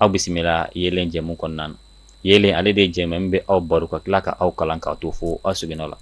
aw bisimila yelen jɛmu kɔnɔna na yelen ale de jɛ min bɛ aw baro ka tila ka aw kalan ka to fo aw seginnao la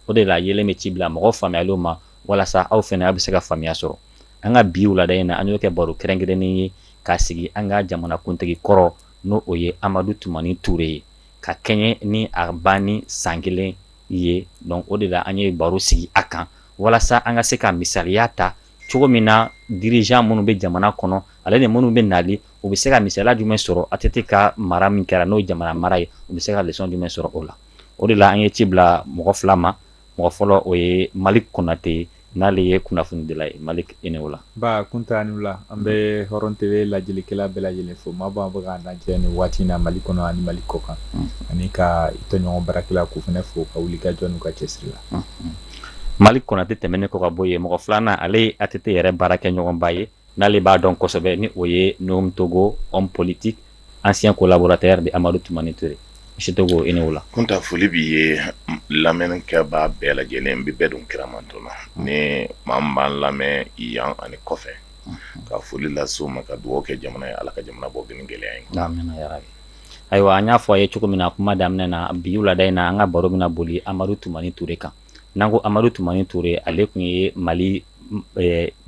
o de la yelen bɛ ci bila mɔgɔ faamuyalen ma walasa aw fana aw bɛ se ka faamuyaya sɔrɔ an ka bi wulada in na an y'o kɛ baro kɛrɛnkɛrɛnnen ye k'a sigi an ka jamanakuntigi kɔrɔ n'o ye amadu tumani ture ye ka kɛɲɛ ni a banni san kelen ye don o de la an ye baro sigi a kan walasa an ka se ka misaliya ta cogo min na dirigeant minnu bɛ jamana kɔnɔ ale ni minnu bɛ nali u bɛ se ka misala jumɛn sɔrɔ ATT ka mara min kɛra n'o ye jamana mara ye u bɛ se ka leçon jumɛn sɔrɔ o la o de la an ye ci bila mɔgɔ fila ma mɔgɔ fɔlɔ o ye malik konatɛ n'ale ye kunnafonidila ye mali e o la kun la an bɛ hɔrɔn TV lajɛlikɛla bɛɛ lajɛlen fo maa b'a bɔ an lajɛ nin waati in na mali kɔnɔ ani mali kɔkan ani ka tɔɲɔgɔn baarakɛlaw fana fo u ka wulikajɔ n'u ka cɛsiri la Malik Konatɛ tɛmɛnen kɔ ka bɔ yen mɔgɔ filanan ale ye ATT yɛrɛ baarakɛɲɔgɔnba ye n'ale b'a dɔn kosɛbɛ ni o ye Nouhoum Togo homme politique ancien collaborateur de Amadu Tumani Ture Togo e la tun foli b'i ye lamɛnkɛbaa bɛɛ lajɛlen n bɛ bɛɛ don kira mantɔn na ni maa b'an lamɛn yan ani kɔfɛ ka foli lase u ma ka dugawu kɛ jamana ye ala ka jamana bɔ gɛlɛya la Ayiwa an y'a fɔ a ye cogo min na kuma daminɛ na bi wulada in na an ka baro bɛna boli Amadu Tumani Ture kan n'an ko Amadu Tumani Ture ale tun ye Mali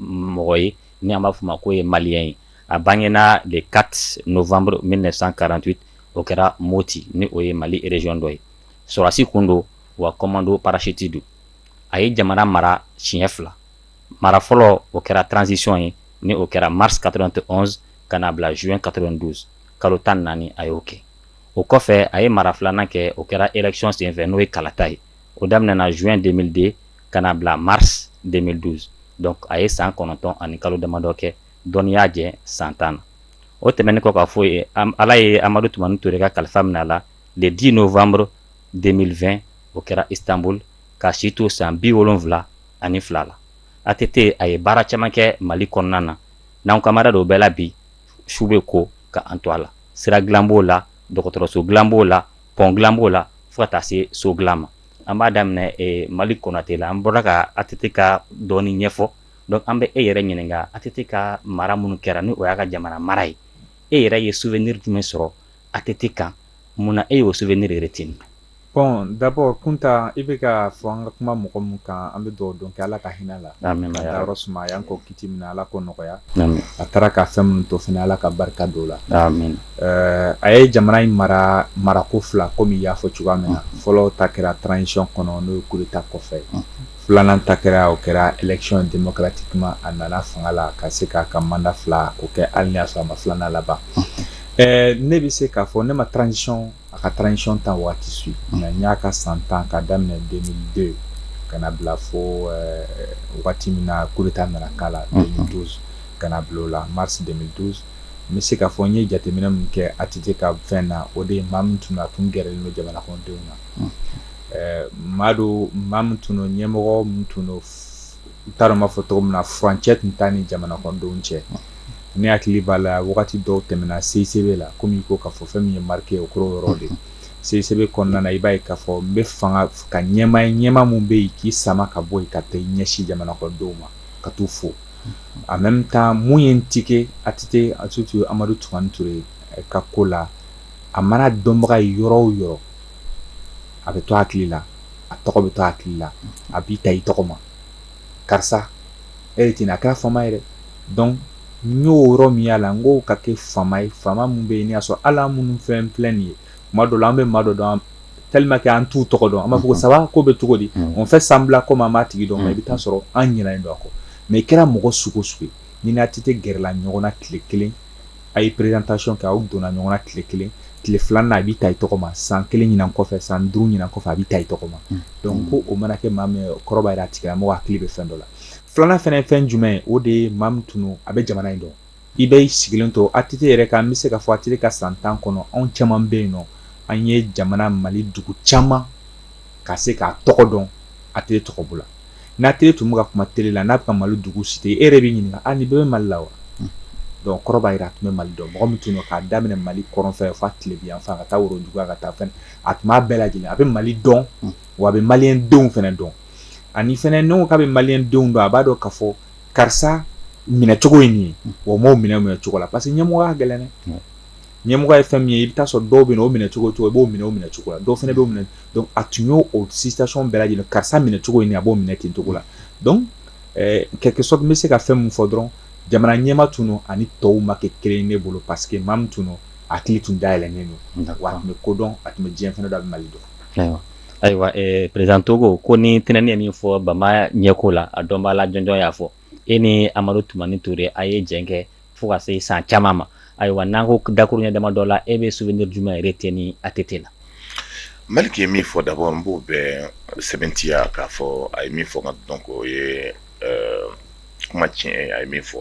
mɔgɔ ye ni an b'a fɔ o ma ko ye maliyɛn ye a bangena le 4 novembre 1948 o kɛra Moti ni o ye Mali région dɔ ye sɔrɔdasi kun don wa commando parachute don a ye jamana mara siɲɛ fila mara fɔlɔ o kɛra transition ye ni o kɛra mars 91 ka na bila juin 92 kalo tan naani a y'o kɛ o kɔfɛ a ye mara filanan kɛ o kɛra élection senfɛ n'o ye kalata ye o daminɛna juin 2002 ka na bila mars 2012 a ye san kɔnɔntɔn ani kalo damadɔ kɛ dɔɔnin y'a jɛ san tan na o tɛmɛn kɔ ka bɔ yen ala ye amadu tumani ture ka kalifa minɛ a la le 10 novembre 2020 o kɛra Istanbul k'a si to san biwolonwula ani fila la ATT a ye baara caman kɛ mali kɔnɔna na n'an kumana dɔw bɛɛ la bi su bɛ ko ka an to a la sira dilan b'o la dɔgɔtɔrɔso dilan b'o la pont dilan b'o la fo ka taa se so dilan ma an b'a daminɛ Malik Konatɛ la an bɔra ka ATT ka dɔɔnin ɲɛfɔ donc an bɛ e yɛrɛ ɲininka ATT ka mara minnu kɛra ni o y'a ka jamana mara ye e yɛrɛ ye souvenir jumɛn sɔrɔ ATT kan munna e y'o souvenir retenir bon d'abord kuntan i bɛ k'a fɔ an ka kuma mɔgɔ min kan an bɛ dugawu don kɛ ala ka hinɛ a la k'a dayɔrɔ suma a y'an kɔn kiti min na ala k'o nɔgɔya a taara ka fɛn minnu to fana ala ka barika don o la a ye jamana in mara marako fila kɔmi i y'a fɔ cogoya min na fɔlɔ ta kɛra transition kɔnɔ n'o ye kudeta kɔfɛ Filanan ta kɛra o kɛra élection démocratique a nana fanga la ka se k'a ka mandat 2 o kɛ hali n'a y'a sɔrɔ a ma filanan laban ɛɛ ne bɛ se k'a fɔ ne ma transition a ka transition temps waati si mais n y'a ka san 10 k'a daminɛ 2002 ka n'a bila fo waati min na coup d'État nana k'a la 2012 ka n'a bila o la mars 2012 n bɛ se k'a fɔ n ye jateminɛ min kɛ ATT ka fɛn na o de ye maa min tun don a tun gɛrɛlen don jamanakɔnɔdenw na. ɛɛ maa don maa min tun don ɲɛmɔgɔ min tun don n t'a dɔn n b'a fɔ cogo min na furancɛ tun t'a ni jamanakɔnɔdenw cɛ, ne hakili b'a la wagati dɔw tɛmɛna CICB la komi i ko k'a fɔ fɛn min ye n marquer o kɛra o yɔrɔ de ye CICB kɔnɔna na i b'a ye k'a fɔ n bɛ fanga ka ɲɛmaa ye ɲɛmaa min bɛ yen k'i sama ka bɔ yen ka taa i ɲɛsin jamanakɔnɔdenw ma ka t'u fo en même temps mun ye n tiquer ATT Amadu Tumani Ture ka ko la a man'a dɔnbaga ye yɔrɔ o yɔrɔ a bɛ to a hakili la a tɔgɔ bɛ to a hakili la a b'i ta i tɔgɔ ma karisa e ye ten a kɛra faama ye donc n y'o yɔrɔ min y'a la n ko ka kɛ faama ye faama min bɛ yen n y'a sɔrɔ ala minnu fɛn filɛ nin ye maa dɔw la an bɛ maa dɔw dɔn telima kɛ an t'u tɔgɔ dɔn an b'a fɔ ça va ko bɛ cogo di on fait semblant comme an b'a tigi dɔn i bɛ taa sɔrɔ an ɲinanen don a kɔ mais i kɛra mɔgɔ sugu sugu ye n'i ni ATT gɛrɛla ɲɔgɔn na tile kelen A ye présentation kɛ aw donna ɲɔgɔn na tile kelen tile filanan a b'i ta i tɔgɔ ma san kelen ɲin kɔfɛ san duuru ɲin kɔfɛ a b'i ta i tɔgɔ ma donc ko o mana kɛ maa min kɔrɔ b'a jira a tigi mɔgɔ a hakili bɛ fɛn dɔ la filanan fana ye fɛn jumɛn ye o de ye maa min tun a bɛ jamana in dɔn i bɛ sigilen to ATT yɛrɛ kan an bɛ se k'a fɔ ATT ka san tan kɔnɔ anw caman bɛ yen nɔ an ye jamana mali dugu caman ka se k'a tɔgɔ dɔn ATT tɔgɔ la ni ATT tun bɛ ka kuma télé la n'a ka mali dugu citer e yɛrɛ b'i ɲini nin bɛ mali la wa donc kɔrɔ b'a jira a tun bɛ mali dɔn mɔgɔ min tun don k'a daminɛ mali kɔrɔnfɛ fo tile yanfan ka taa worodugu yan ka taa fɛn a tun b'a bɛɛ lajɛlen a bɛ mali dɔn wa a bɛ mali denw fana dɔn ani fana n'i k'a bɛ mali denw dɔn a b'a dɔn k'a fɔ karisa minɛcogo in nin ye o maaw minɛ minɛ cogo la parce que ɲɛmɔgɔya gɛlɛn ɲɛmɔgɔ ye fɛn min ye i bɛ taa sɔrɔ dɔw bɛ yen o minɛ cogo cogo i b'o minɛ o minɛ cogo la dɔw fana b'o minɛ a tun y'o o situation bɛɛ lajɛlen karisa minɛ cogo in a b'o minɛ ten cogo la donc leçon n bɛ se ka fɛn min fɔ dɔrɔn jamana ɲɛmaa tun ani tɔw ma kɛ kelen ne bolo parce que maa min tun a hakili tun dayɛlɛlen don a tun bɛ ko dɔn a tun bɛ diɲɛ fana dɔn mali dɔn ayiwa prezantogo ko ni tɛnɛnani min fɔ bama ɲɛko la a dɔn b'a lajɔn y'a fɔ e ni Amadu Tumani Ture a ye jɛ kɛ fo ka se san caman ma ayiwa n'an ko dakurunɲɛ dama dɔ la e bɛ so ni jumɛn yɛrɛ tɛ ni ATT na maliki ye min fɔ d'abord n b'o bɛɛ sɛbɛntiya k'a fɔ a ye min fɔ ka dɔn ko ye kuma tiɲɛ a ye min fɔ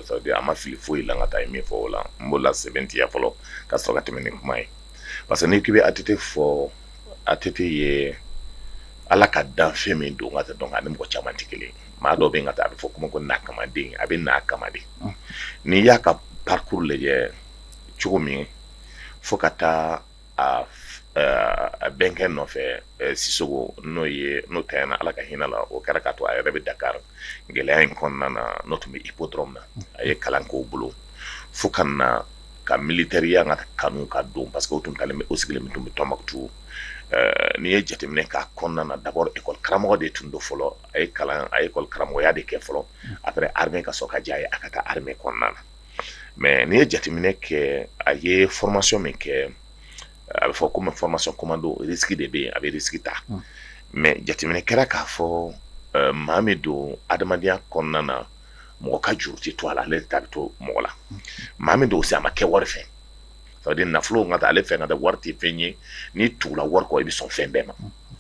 sabu a ma fili foyi la ka taa ye min fɔ o la n b'o la sɛbɛntiya fɔlɔ ka sɔrɔ ka tɛmɛ ni kuma ye parce que n'i k'i bɛ ATT fɔ ATT ye ala ka danfɛn min don ka tɛ dɔn ani mɔgɔ caman tɛ kelen maa dɔ bɛ ka taa a bɛ fɔ kuma ko n'a kamaden a bɛ n'a kama de n'i y'a ka parcours lajɛ cogo min ye fo ka taa a bɛnkɛ nɔfɛ siso n'o ye n'o ta na ala ka hinɛ a la o kɛra k'a to a yɛrɛ bɛ dakari gɛlɛya in kɔnɔna na n'o tun bɛ i ko dɔrɔn na a ye kalan ko bolo fo ka ka militɛriya kanu ka don parce que tun o sigilen tun bɛ Tumutu n'i ye jateminɛ k'a kɔnɔna na d'abord lakɔli karamɔgɔ de tun don fɔlɔ a ye kalan a ye lakɔli karamɔgɔya de kɛ fɔlɔ a bɛ armée ka sɔrɔ ka diya a ye a ka taa armée kɔnɔna na mais n'i ye jateminɛ kɛ a ye formation min kɛ a bɛ fɔ ko formation commando sigi de bɛ yen a bɛ sigi ta mais jateminɛ kɛra k'a fɔ maa min don adamadenya kɔnɔna na mɔgɔ ka juru tɛ to a la ale ta bɛ to mɔgɔ la maa min don a ma kɛ wari fɛ nafolo ka taa ale fɛ ka da wari tɛ fɛn ye n'i tugula wari kɔ i bɛ sɔn fɛn bɛɛ ma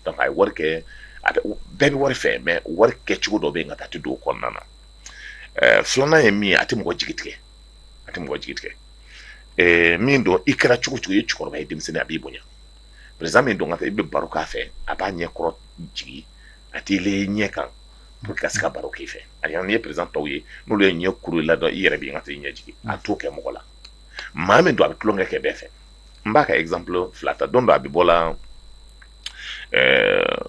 Donc a ye wari kɛ a bɛ bɛɛ bɛ wari fɛ mais wari kɛ cogo dɔ bɛ yen nka taa tɛ don o kɔnɔna na ɛɛ filanan ye min ye a tɛ mɔgɔ jigi tigɛ a tɛ mɔgɔ jigi tigɛ ɛɛ min don i kɛra cogo cogo i ye cɛkɔrɔba ye denmisɛnnin a b'i bonya président min don ka taa i bɛ baro k'a fɛ a b'a ɲɛ kɔrɔ jigin a t'i le ɲɛ kan pour que ka se ka baro k'i fɛ ani n'i ye président tɔw ye n'olu y'u ɲɛ kuru i la dɔrɔn i yɛrɛ b'i ka t'i ɲɛ jigin a t'o kɛ mɔgɔ la maa min don a bɛ tulonkɛ kɛ bɛɛ fɛ n b'a ka exemple fila ta don dɔ a bɛ bɔ la euh,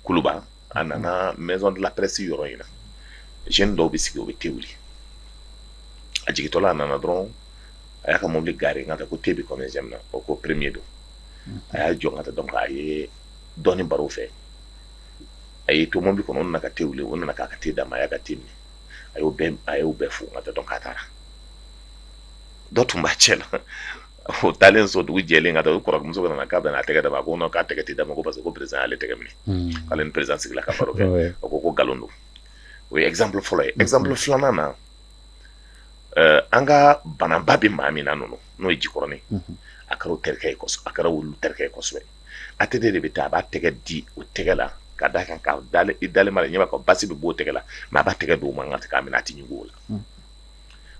kuluba a nana maison de la presse yɔrɔ in na jeune dɔw bɛ sigi o bɛ te wuli a jigitɔla a nana dɔrɔn a y'a ka mobili garer n ka ta ko te bɛ kɔmɛnsɛm na o ko premier don a y'a jɔ n ka ta donc a ye dɔɔni baro o fɛ a y'i to mobili kɔnɔ o nana ka te wuli o nana k'a ka te d'a ma a y'a ka te min a y'o bɛɛ a y'o bɛɛ fo n ka ta donc a taara dɔ tun b'a cɛ la o taalen so dugu jɛlen ka taa o kɔrɔmuso nana k'a bɛna a tɛgɛ d'a ma ko k'a tɛgɛ tɛ d'a ma ko parce que ko prési y'ale tɛgɛ minɛ hmm. ale ni prési sigila ka baro kɛ a ko ko nkalon don o ye exemple fɔlɔ ye exemple hmm. filanan na eh, an ka banaba bɛ maa min na ninnu n'o ye jikɔrɔnin hmm. a kɛra terikɛ ye a kɛra olu terikɛ ye kosɛbɛ ATT bɛ taa a b'a tɛgɛ di o tɛgɛ la ka d'a kan ka i dalen ma ɲɛ ka basi bɛ b'o tɛgɛ la mais a b'a tɛgɛ don o man kan k'a minɛ a tɛ ɲugu o la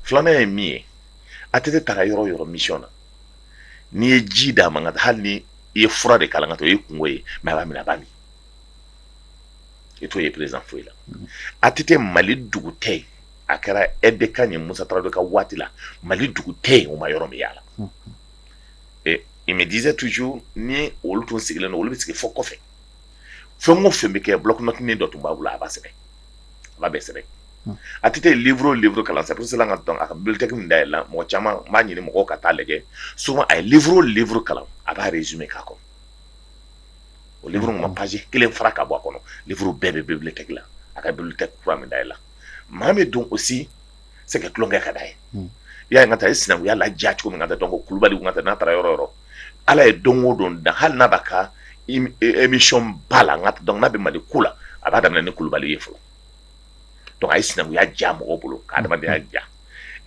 filanan ye min ye ATT taara yɔrɔ yɔrɔ mission na n'i ye ji d'a ma hali ni i ye fura de k'a la ka to i kungo ye mɛ a b'a minɛ a b'a min i t'o ye président foyi la ATT mali dugu tɛ yen a kɛra aide de camp ye musa tarawele ka waati la mali dugu tɛ yen u ma yɔrɔ min yaala il me disait toujours ni olu tun sigilen olu bɛ sigi fɔ kɔfɛ fɛn o fɛn bɛ kɛ bloc-notenin dɔ tun b'a bolo a b'a sɛbɛn a bɛ sɛbɛn a tɛ uru uru kalan sa siran ka dɔn a bibilitɛ min da yɛlɛ la mɔgɔ caman b'a ɲini mɔgɔ ka taa lajɛ s a ye uru uru kalan a b'a yɛrɛ z k'a kɔ o ma pasi kelen fara ka bɔ a kɔnɔ uru bɛɛ bɛbili tɛ la a ka kura min da la maa bɛ don o si c'est que tulonkɛ ka d'a ye, un, i y'a ye n ka taa i sinankunya la diya cogo min ka taa donc kulubali ka taa n'a taara yɔrɔ yɔrɔ ala ye don o don dan hali n'a b'a ka émission ba la n ka donc n'a bɛ mali ko la a b'a daminɛ ni kulubali ye fɔlɔ donc a ye sinankunya diya mɔgɔw bolo ka adamadenya diya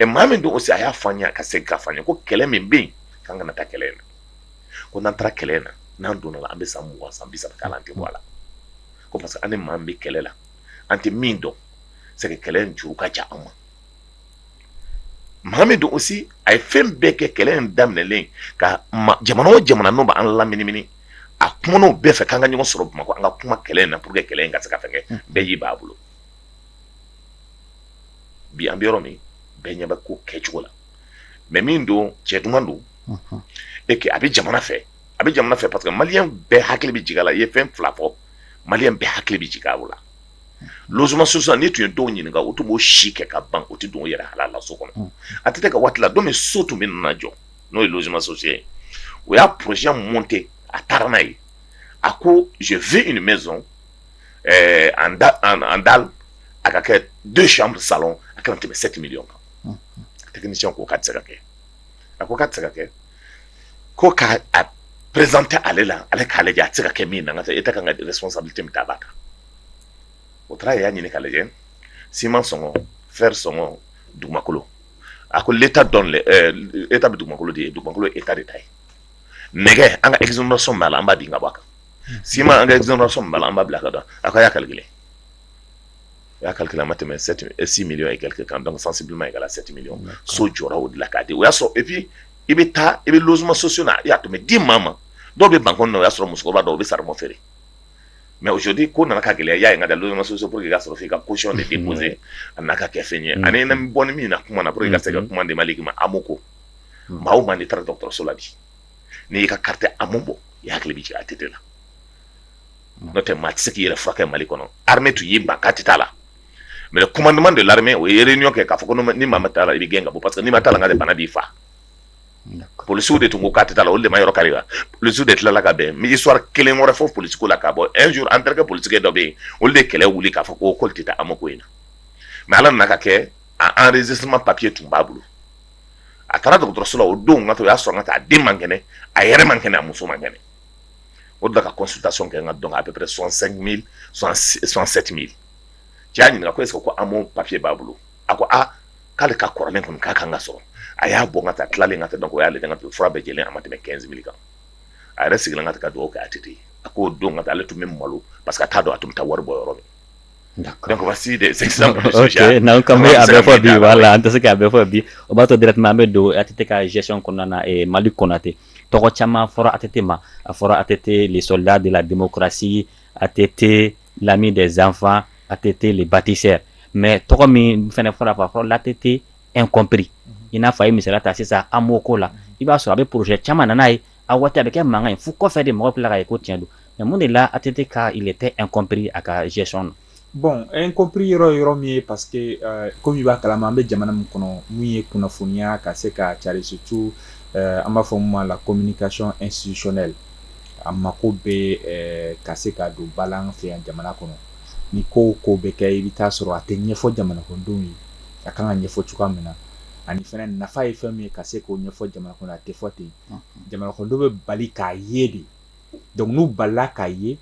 ɛ maa min don aussi a y'a fɔ an ye a ka segin k'a fɔ an ye ko kɛlɛ min bɛ yen k'an kana taa kɛlɛ in na ko n'an taara kɛlɛ in na n'an donna la an bɛ san mugan san bi saba k'a la an tɛ bɔ a la ko parce que an ni maa min bɛ kɛlɛ la an tɛ min dɔn c'est que kɛlɛ in juru ka jan an ma mɔgɔ min don aussi a ye fɛn bɛɛ kɛ kɛlɛ in daminɛlen ka jamana o jamana n' bɛ'an lamini a kumana o bɛɛ fɛ k'an ka ɲɔgɔn sɔrɔ bamakɔ an ka kuma kɛlɛ in na pour que kɛlɛ in ka se ka fɛ bɛɛ y'i ban a bolo bi an bɛ yɔrɔ min bɛɛ ɲɛ bɛ ko kɛ cogo la mais min don cɛ duman don e a bɛ jamana fɛ a bɛ jamana fɛ parce que malien bɛɛ hakili bɛ jigin a la i ye fɛn fila fɔ malien bɛɛ hakili bɛ jigin o la logements sociaux nin tun ye dɔw ɲini u tun b'u si kɛ ka ban u tɛ don u yɛrɛ halala so kɔnɔ ATT ka waati la don min so tun bɛ na jɔ n'o ye logements sociaux ye u y'a projet monté u taara n'a ye a ko je veux une maison en dalle a ka kɛ deux chambres salon a kana tɛmɛ 7 millions kan a tɛ ni ko ka sɛgɛ kɛ a ko ka sɛgɛ kɛ ko k'a présenter ale la ale k'a lajɛ a bɛ se ka kɛ min na a ka responsabilité bɛ min ta a b'a ta u taara y'a ɲini k'a lajɛ siman sɔngɔ fer sɔngɔ dugumakolo a ko l'état de bɛ dugumakolo di dugumakolo ye état de ta ye nɛgɛ an ka exonération b'a la an b'o di ka bɔ a kan siman an ka exonération b'a la an b'o bila ka da a kan a' y'a calculer u y'a calculer a ma tɛmɛ 7 m 6 millions et quelques kan donc sensiblement égal à 7 millions d'accord so jɔra o de la k'a di o y'a sɔrɔ et puis i bɛ taa i bɛ logements sociaux na i y'a to mais di maa ma dɔw bɛ bankɔni na u y'a sɔrɔ musokɔrɔba dɔw u bɛ saribɔn feere mais aujourd'hui ko nana ka gɛlɛya i y'a ye n ka da logements sociaux pour que i ka sɔrɔ f'i ka caution de déposer a n'a ka kɛ fɛn ye ani na bɔ ni min na kuma na pour que i ka se ka kuma di Malick ma AMO ko maa o maa n'i taara dɔgɔtɔrɔso la bi n'i y'i ka carte AMO bɔ i hakili bɛ jigin ATT la n'o tɛ maa tɛ se k'i yɛrɛ furakɛ kɛ Mali kɔnɔ armée tun y'i ban k'a tɛ taa la mais le commandement de l'armée o ye réunion kɛ k'a fɔ ko ni maa ma taa la i bɛ gɛn ka bɔ parce que n'i ma taa la nka bana b'i faga policiers de tun ko k'a tɛ taa la olu de ma yɔrɔ kari la policiers de tilala ka bɛn n bɛ histoire kelen wɛrɛ fɔ police ko la k'a bɔ un jour an terikɛ polisikɛ dɔ bɛ yen olu de kɛlɛ wuli k'a fɔ ko k'olu tɛ taa AMO ko in na mais ala nana k'a kɛ a enregistrement papier tun b'a bolo a taara dɔgɔtɔrɔso la o don ka to o y'a sɔrɔ ka taa a den man kɛnɛ a yɛrɛ man kɛnɛ a muso man kɛnɛ o da ka consultation kɛ n ka dɔn à peu près cent cinq mille cent sept mille cɛ y'a ɲininka ko est-ce que AMO papier b'a bolo a ko aa k'ale ka kɔrɔlen kɔnɔ k'a ka kan ka sɔrɔ a y'a bɔ ka taa tilalen ka tɛ dɔn y'ale ka to fura bɛɛ lajɛlen a ma tɛmɛ quinze mille kan a yɛrɛ sigilen ka ka dugawu kɛ a tɛ a k'o don ka taa ale tun bɛ malo parce que t'a dɔn a tun bɛ taa wari bɔ yɔrɔ min n'an bɛ fɔ bi la an tɛ se k'a bɛɛ fɔ bi o b'a to directement an bɛ don ATT ka gestion kɔnɔna mali kɔnɔ ATT tɔgɔ caman fɔra ATT ma, a fɔra ATT le soldat de la democratie, ATT l'ami des enfants, ATT le batisseur mais tɔgɔ min fana fɔra a fɔra l'ATT incompris i n'a fɔ a ye misali ta sisan AMO ko la, i b'a sɔrɔ a bɛ projet caman na n'a ye, a waati a bɛ kɛ mankan ye fo kɔfɛ de mɔgɔw bɛ tila k'a ye ko tiɲɛ don mais mun de la ATT ka il etait incompris a ka gestion na Bon incompris yɔrɔ yɔrɔ min ye parce que comme i b'a kalama an bɛ jamana min kɔnɔ min ye kunnafoniya ka se ka cari situ an b'a fɔ min ma la communication institutionnelle a ma ko bɛ ka se k'a dɔn an fɛ yan jamana kɔnɔ ni ko ko bɛ kɛ i bɛ taa sɔrɔ a tɛ ɲɛfɔ jamanadenw ye a ka kan ka ɲɛfɔ cogoya min na ani fana nafa ye fɛn min ye ka se k'o ɲɛfɔ jamana kɔnɔ a tɛ fɔ ten jamanaden bɛ bali k'a ye de donc olu balila k'a ye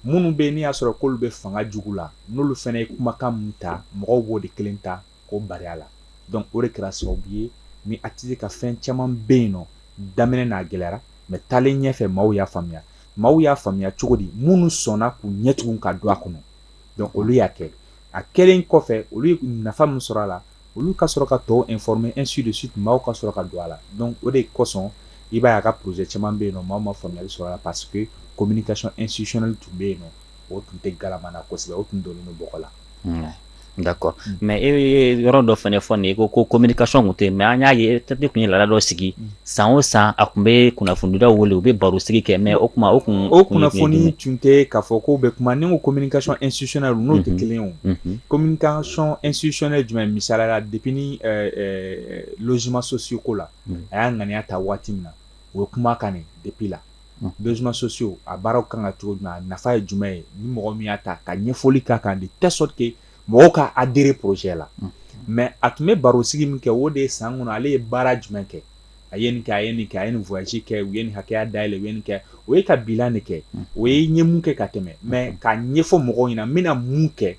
minnu bɛ n'i y'a sɔrɔ k'olu bɛ fanga jugu la n'olu fana ye kumakan min ta mɔgɔw b'o de kelen ta k'o bari a la donc o de kɛra sababu ye ni ATT ka fɛn caman bɛ yen n'o daminɛna a gɛlɛyara mais taalen ɲɛfɛ maaw y'a faamuya maaw y'a faamuya cogo di minnu sɔnna k'u ɲɛ tugu ka don a kɔnɔ donc olu y'a kɛ a kɛlen kɔfɛ olu ye nafa min sɔrɔ a la olu ka sɔrɔ ka tɔw informer ainsi de suite maaw ka sɔrɔ ka don a la donc o de kosɔn i b'a ye a ka projet caman bɛ yen n'o maaw ma faamuyali sɔrɔ la parce que communication institutionnelle tun bɛ yen n'o tun tɛ galama na kosɛbɛ o tun donnen bɔgɔ la d'accord mais e ye yɔrɔ dɔ fana fɔ nin ye ko ko communication tun tɛ yen mais an y'a ye ATT tun ye laada dɔ sigi san o san a tun bɛ kunnafonidilaw wele u bɛ barosigi kɛ mais o tuma o kun o kunnafoni tun tɛ k'a fɔ ko bɛ kuma ni o communication institutionnelle n'o tɛ kelen o communication institutionnelle jumɛn misali la depuis logements sociaux ko la a y'a ŋaniya ta waati min na u ye kuma kɛ ni depuis logements sociaux a baara ka kan ka kɛ cogo jumɛn a nafa ye jumɛn ye ni mɔgɔ min y'a ta ka ɲɛfɔli ka kan ka di tɛ sɔrɔ ten mɔgɔw ka adhérer projet la mais a tun bɛ baro sigi min kɛ o de ye san kɔnɔ ale ye baara jumɛn kɛ a ye nin kɛ a ye nin kɛ a ye nin voyage kɛ u ye nin hakɛya dayɛlɛ u ye nin kɛ o ye ka bilan de kɛ o ye n ye mun kɛ ka tɛmɛ mais ka ɲɛfɔ mɔgɔw ɲɛna n bɛna mun kɛ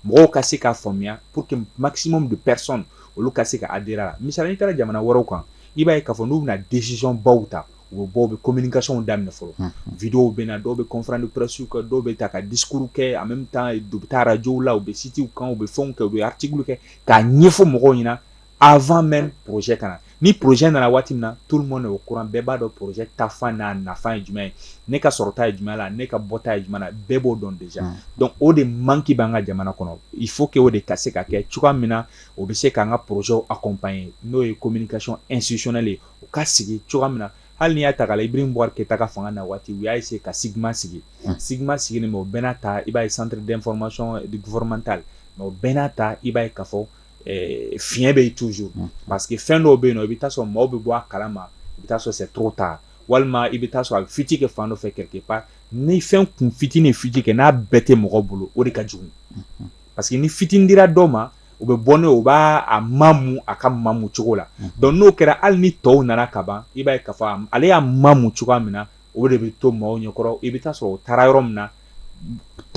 mɔgɔw ka se ka faamuya pour que maximum de personnes olu ka se ka adhérer a la misali la n'i taara jamana wɛrɛw kan i b'a ye ka fɔ n'u bɛna décision baw ta u bɛ bɔ u bɛ communicationw daminɛ fɔlɔ vidéow bɛ na dɔw bɛ conférence de pressew kɛ dɔw bɛ taa ka discours kɛ a bɛ taa dugu ta arajɔw la u bɛ sitiw kan u bɛ fɛnw kɛ u bɛ ati kɛ k'a ɲɛfɔ mɔgɔw ɲɛna avant même projet ka na ni projet nana waati min na tout le monde au courant bɛɛ b'a dɔn projet ta fan na nafa ye jumɛn ye ne ka sɔrɔta ye jumɛn la ne ka bɔta ye jumɛn bɛɛ b'o dɔn de donc o de manque b'an ka jamana kɔnɔ il faut que o de ka se ka kɛ cogoya min na o bɛ se k'an ka projetw accompagner n'o ye communication institutionnelle de ye u ka sigi cogoya min na hali n'i y'a ta Ibrahim Bubakar Keyita ka fanga na waati u y'a se ka CIGMA sigi CIGMA sigilen o bɛɛ n'a ta i b'a ye centre d'information gouvernementale o bɛɛ n'a ta i b'a ye ka fɔ fiɲɛ in bɛ toujours parce que fɛn dɔw bɛ yen na i bɛ taa sɔrɔ maaw bɛ bɔ a kala ma i bɛ taa sɔrɔ trop tard walima i bɛ taa sɔrɔ a bɛ fuite kɛ fan dɔ fɛ quelque part ni fɛn kun fitinin fuite kɛ n'a bɛɛ tɛ mɔgɔ bolo o de ka jugu parce que ni fitinin dira dɔ ma o bɛ bɔ n'a ye o b'a mamu a ka mamu cogo la donc n'o kɛra hali ni tɔw nana ka ban i b'a ye ka fɔ ale y'a mamu cogoya min na o de bɛ to maaw ɲɛkɔrɔ i bɛ taa sɔrɔ o taara yɔrɔ min na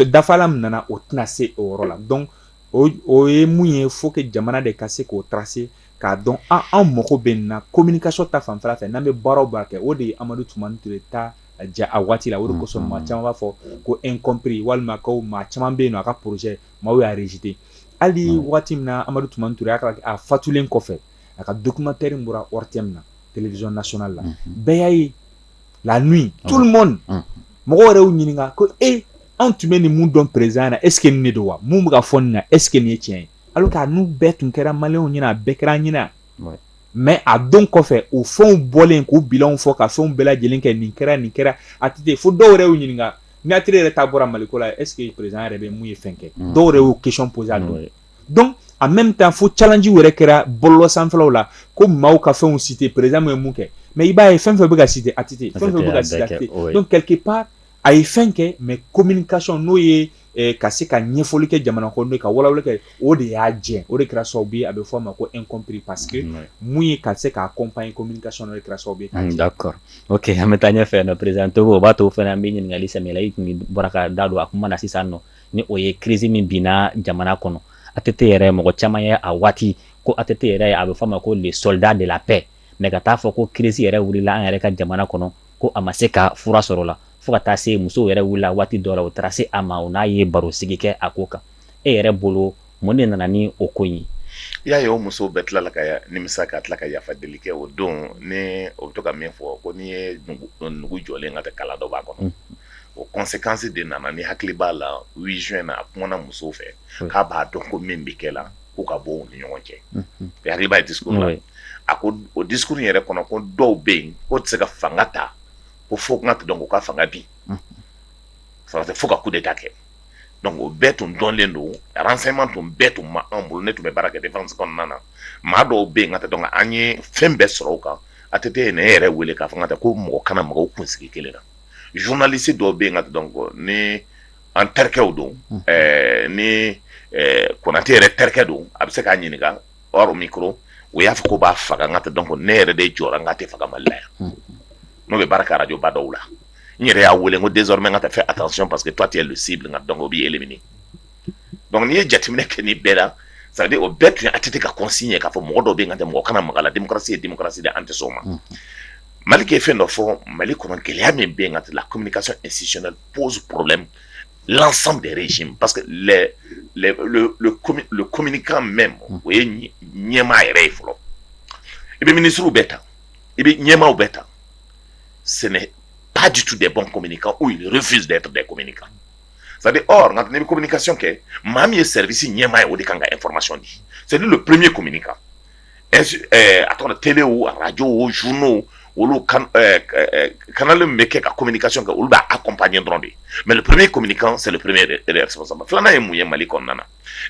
dafalan min nana o tɛna se o yɔrɔ la donc o ye mun ye faut que jamana de ka se k'o tracer k'a dɔn anw mago bɛ na communication ta fan fɛ n'an bɛ baaraw kɛ o de ye Amadu Tumani Ture ta jɛ a waati la o de kosɔn mɔgɔ caman b'a fɔ ko incompris walima ko mɔgɔ caman bɛ yen na a ka projet maaw y'a rejeter hali waati min na Amadu Tumani Ture a fatulen kɔfɛ a ka documentaire in bɔra ORTM na télévision nationale la bɛɛ y'a ye la nuit tout le monde mɔgɔw yɛrɛ y'u ɲininka ko e an tun bɛ ninnu dɔn président na est ce que nin de don wa min bɛ ka fɔ nin na est ce que nin ye tiɲɛ ye alors que a ninnu bɛɛ tun kɛra maliyɛnw ɲɛna a bɛɛ kɛra an ɲɛna mais a don kɔfɛ o fɛnw bɔlen k'u bilanw fɔ ka fɛnw bɛɛ lajɛlen kɛ nin kɛra nin kɛra ATT fo dɔw yɛrɛ y'u ɲininka Mɛtire yɛrɛ taa bɔra mali la eseke perez yɛrɛ bɛ mun ye fɛn kɛ dɔw de y'o kecon boz dɔn a mɛ bɛ taa fo calalenji wɛrɛ kɛra bɔlɔ sanfɛfɛw la ko maaw ka fɛnw si tɛ perez ye mun kɛ mɛ i b'a ye fɛn fɛn bɛ ka si a tɛte pa a ye fɛn kɛ mɛ ko mini kasɔn n'o ye ka se ka ɲɛfɔli kɛ jamana kɔnɔ ka wawa kɛ o de y'a jɛ o de kɛra sababu bi a bɛ f'a ma ko incompris parce que mun ye ka se k'a comprendre communication kɛra sababu d'accord ok an bɛ taa ɲɛ fɛ président to o b'a to o fana an bɛ ɲininkali sɛmɛ i tun bɔra ka da don a kuma na sisan nɔ ni o ye crise min binna jamana kɔnɔ ATT yɛrɛ mɔgɔ caman ye a waati ko ATT yɛrɛ ye a bɛ f'a ma ko le soldat de la paix mais ka taa a fɔ ko crise yɛrɛ wilila an yɛrɛ ka jamana kɔnɔ ko a ma se ka fura sɔrɔ a la fo ka taa se musow yɛrɛ wilila waati dɔ la o taara se a ma o n'a ye baro sigi kɛ a ko kan e yɛrɛ bolo mun de nana ni o ko ye i y'a ye o musow bɛɛ tilala ka nimisa ka tila ka yafa deli kɛ o don ni o bɛ to ka min fɔ ko n'i ye nugu jɔlen ka tɛ kala dɔ b'a kɔnɔ o conséquence de nana n'i hakili b'a la 8 juin na a kumana musow fɛ k'a b'a dɔn ko min bɛ kɛ la k'u ka bɔ u ni ɲɔgɔn cɛ hakiliba ye di ye a ko o discours yɛrɛ kɔnɔ ko dɔw bɛ yen o tɛ se ka fanga ta ko fo tun ka dɔn k'u ka fanga bi fara tɛ fo ka coup d'État kɛ donc o bɛɛ tun dɔnnen don renseignement tun bɛɛ tun ma anw bolo ne tun bɛ baara kɛ kɔnɔna na maa dɔw bɛ yen ka dɔn an ye fɛn bɛɛ sɔrɔ kan a tɛ tɛ ne yɛrɛ wele k'a fɔ ka ko mɔgɔ kana mɔgɔw kun sigi kelen na journaliste dɔw bɛ yen ka dɔn kɔ ni an terikɛw don ni konatɛ yɛrɛ terikɛ don a bɛ se k'a ɲininka min o y'a fɔ k'u b'a faga ka tɛ dɔn ne yɛrɛ de jɔ n k'a tɛ faga mali la yan n'o bɛ baara arajoba dɔw la n yɛrɛ y'a weele ko désormais ka taa faire attention parce que tu es ciblé ka dɔn b'i éliminer donc n'i ye jateminɛ kɛ ni bɛɛ la ça veut dire o bɛɛ tun a tɛ ka kɔsin ye k'a fɔ mɔgɔ dɔ bɛ ka tɛ mɔgɔ kana maka la denmusosi ye denmusosi an tɛ o ma malick ye fɛn dɔ fɔ mali kɔnɔ gɛlɛya min bɛ ka la communication institutionnelle pose problème l'ensemble du régime parce que le communicant même o ye ɲɛmaa yɛrɛ ye fɔlɔ i bɛ minisiriw bɛ ta i bɛ ɲɛmaaw bɛ ta sɛnɛ pa dusu de bɔ kɔmi kan u yɛrɛ fi de tun bɛ kɔmi kan sabu nka ne bɛ kɔmi ka kɛ maa min ye sɛsi ɲɛmaa ye o de kan ka fɔrɔmasi di seli don pme kɔmi kan a tɔgɔ tele araj o zun olu kanalen bɛ kɛ ka kɔmi ka kɛ olu b'a kun pan ɲɛ dɔrɔn de mɛ purme kɔmi kan seli pmesɔn filanan ye mun ye mali kɔnɔna na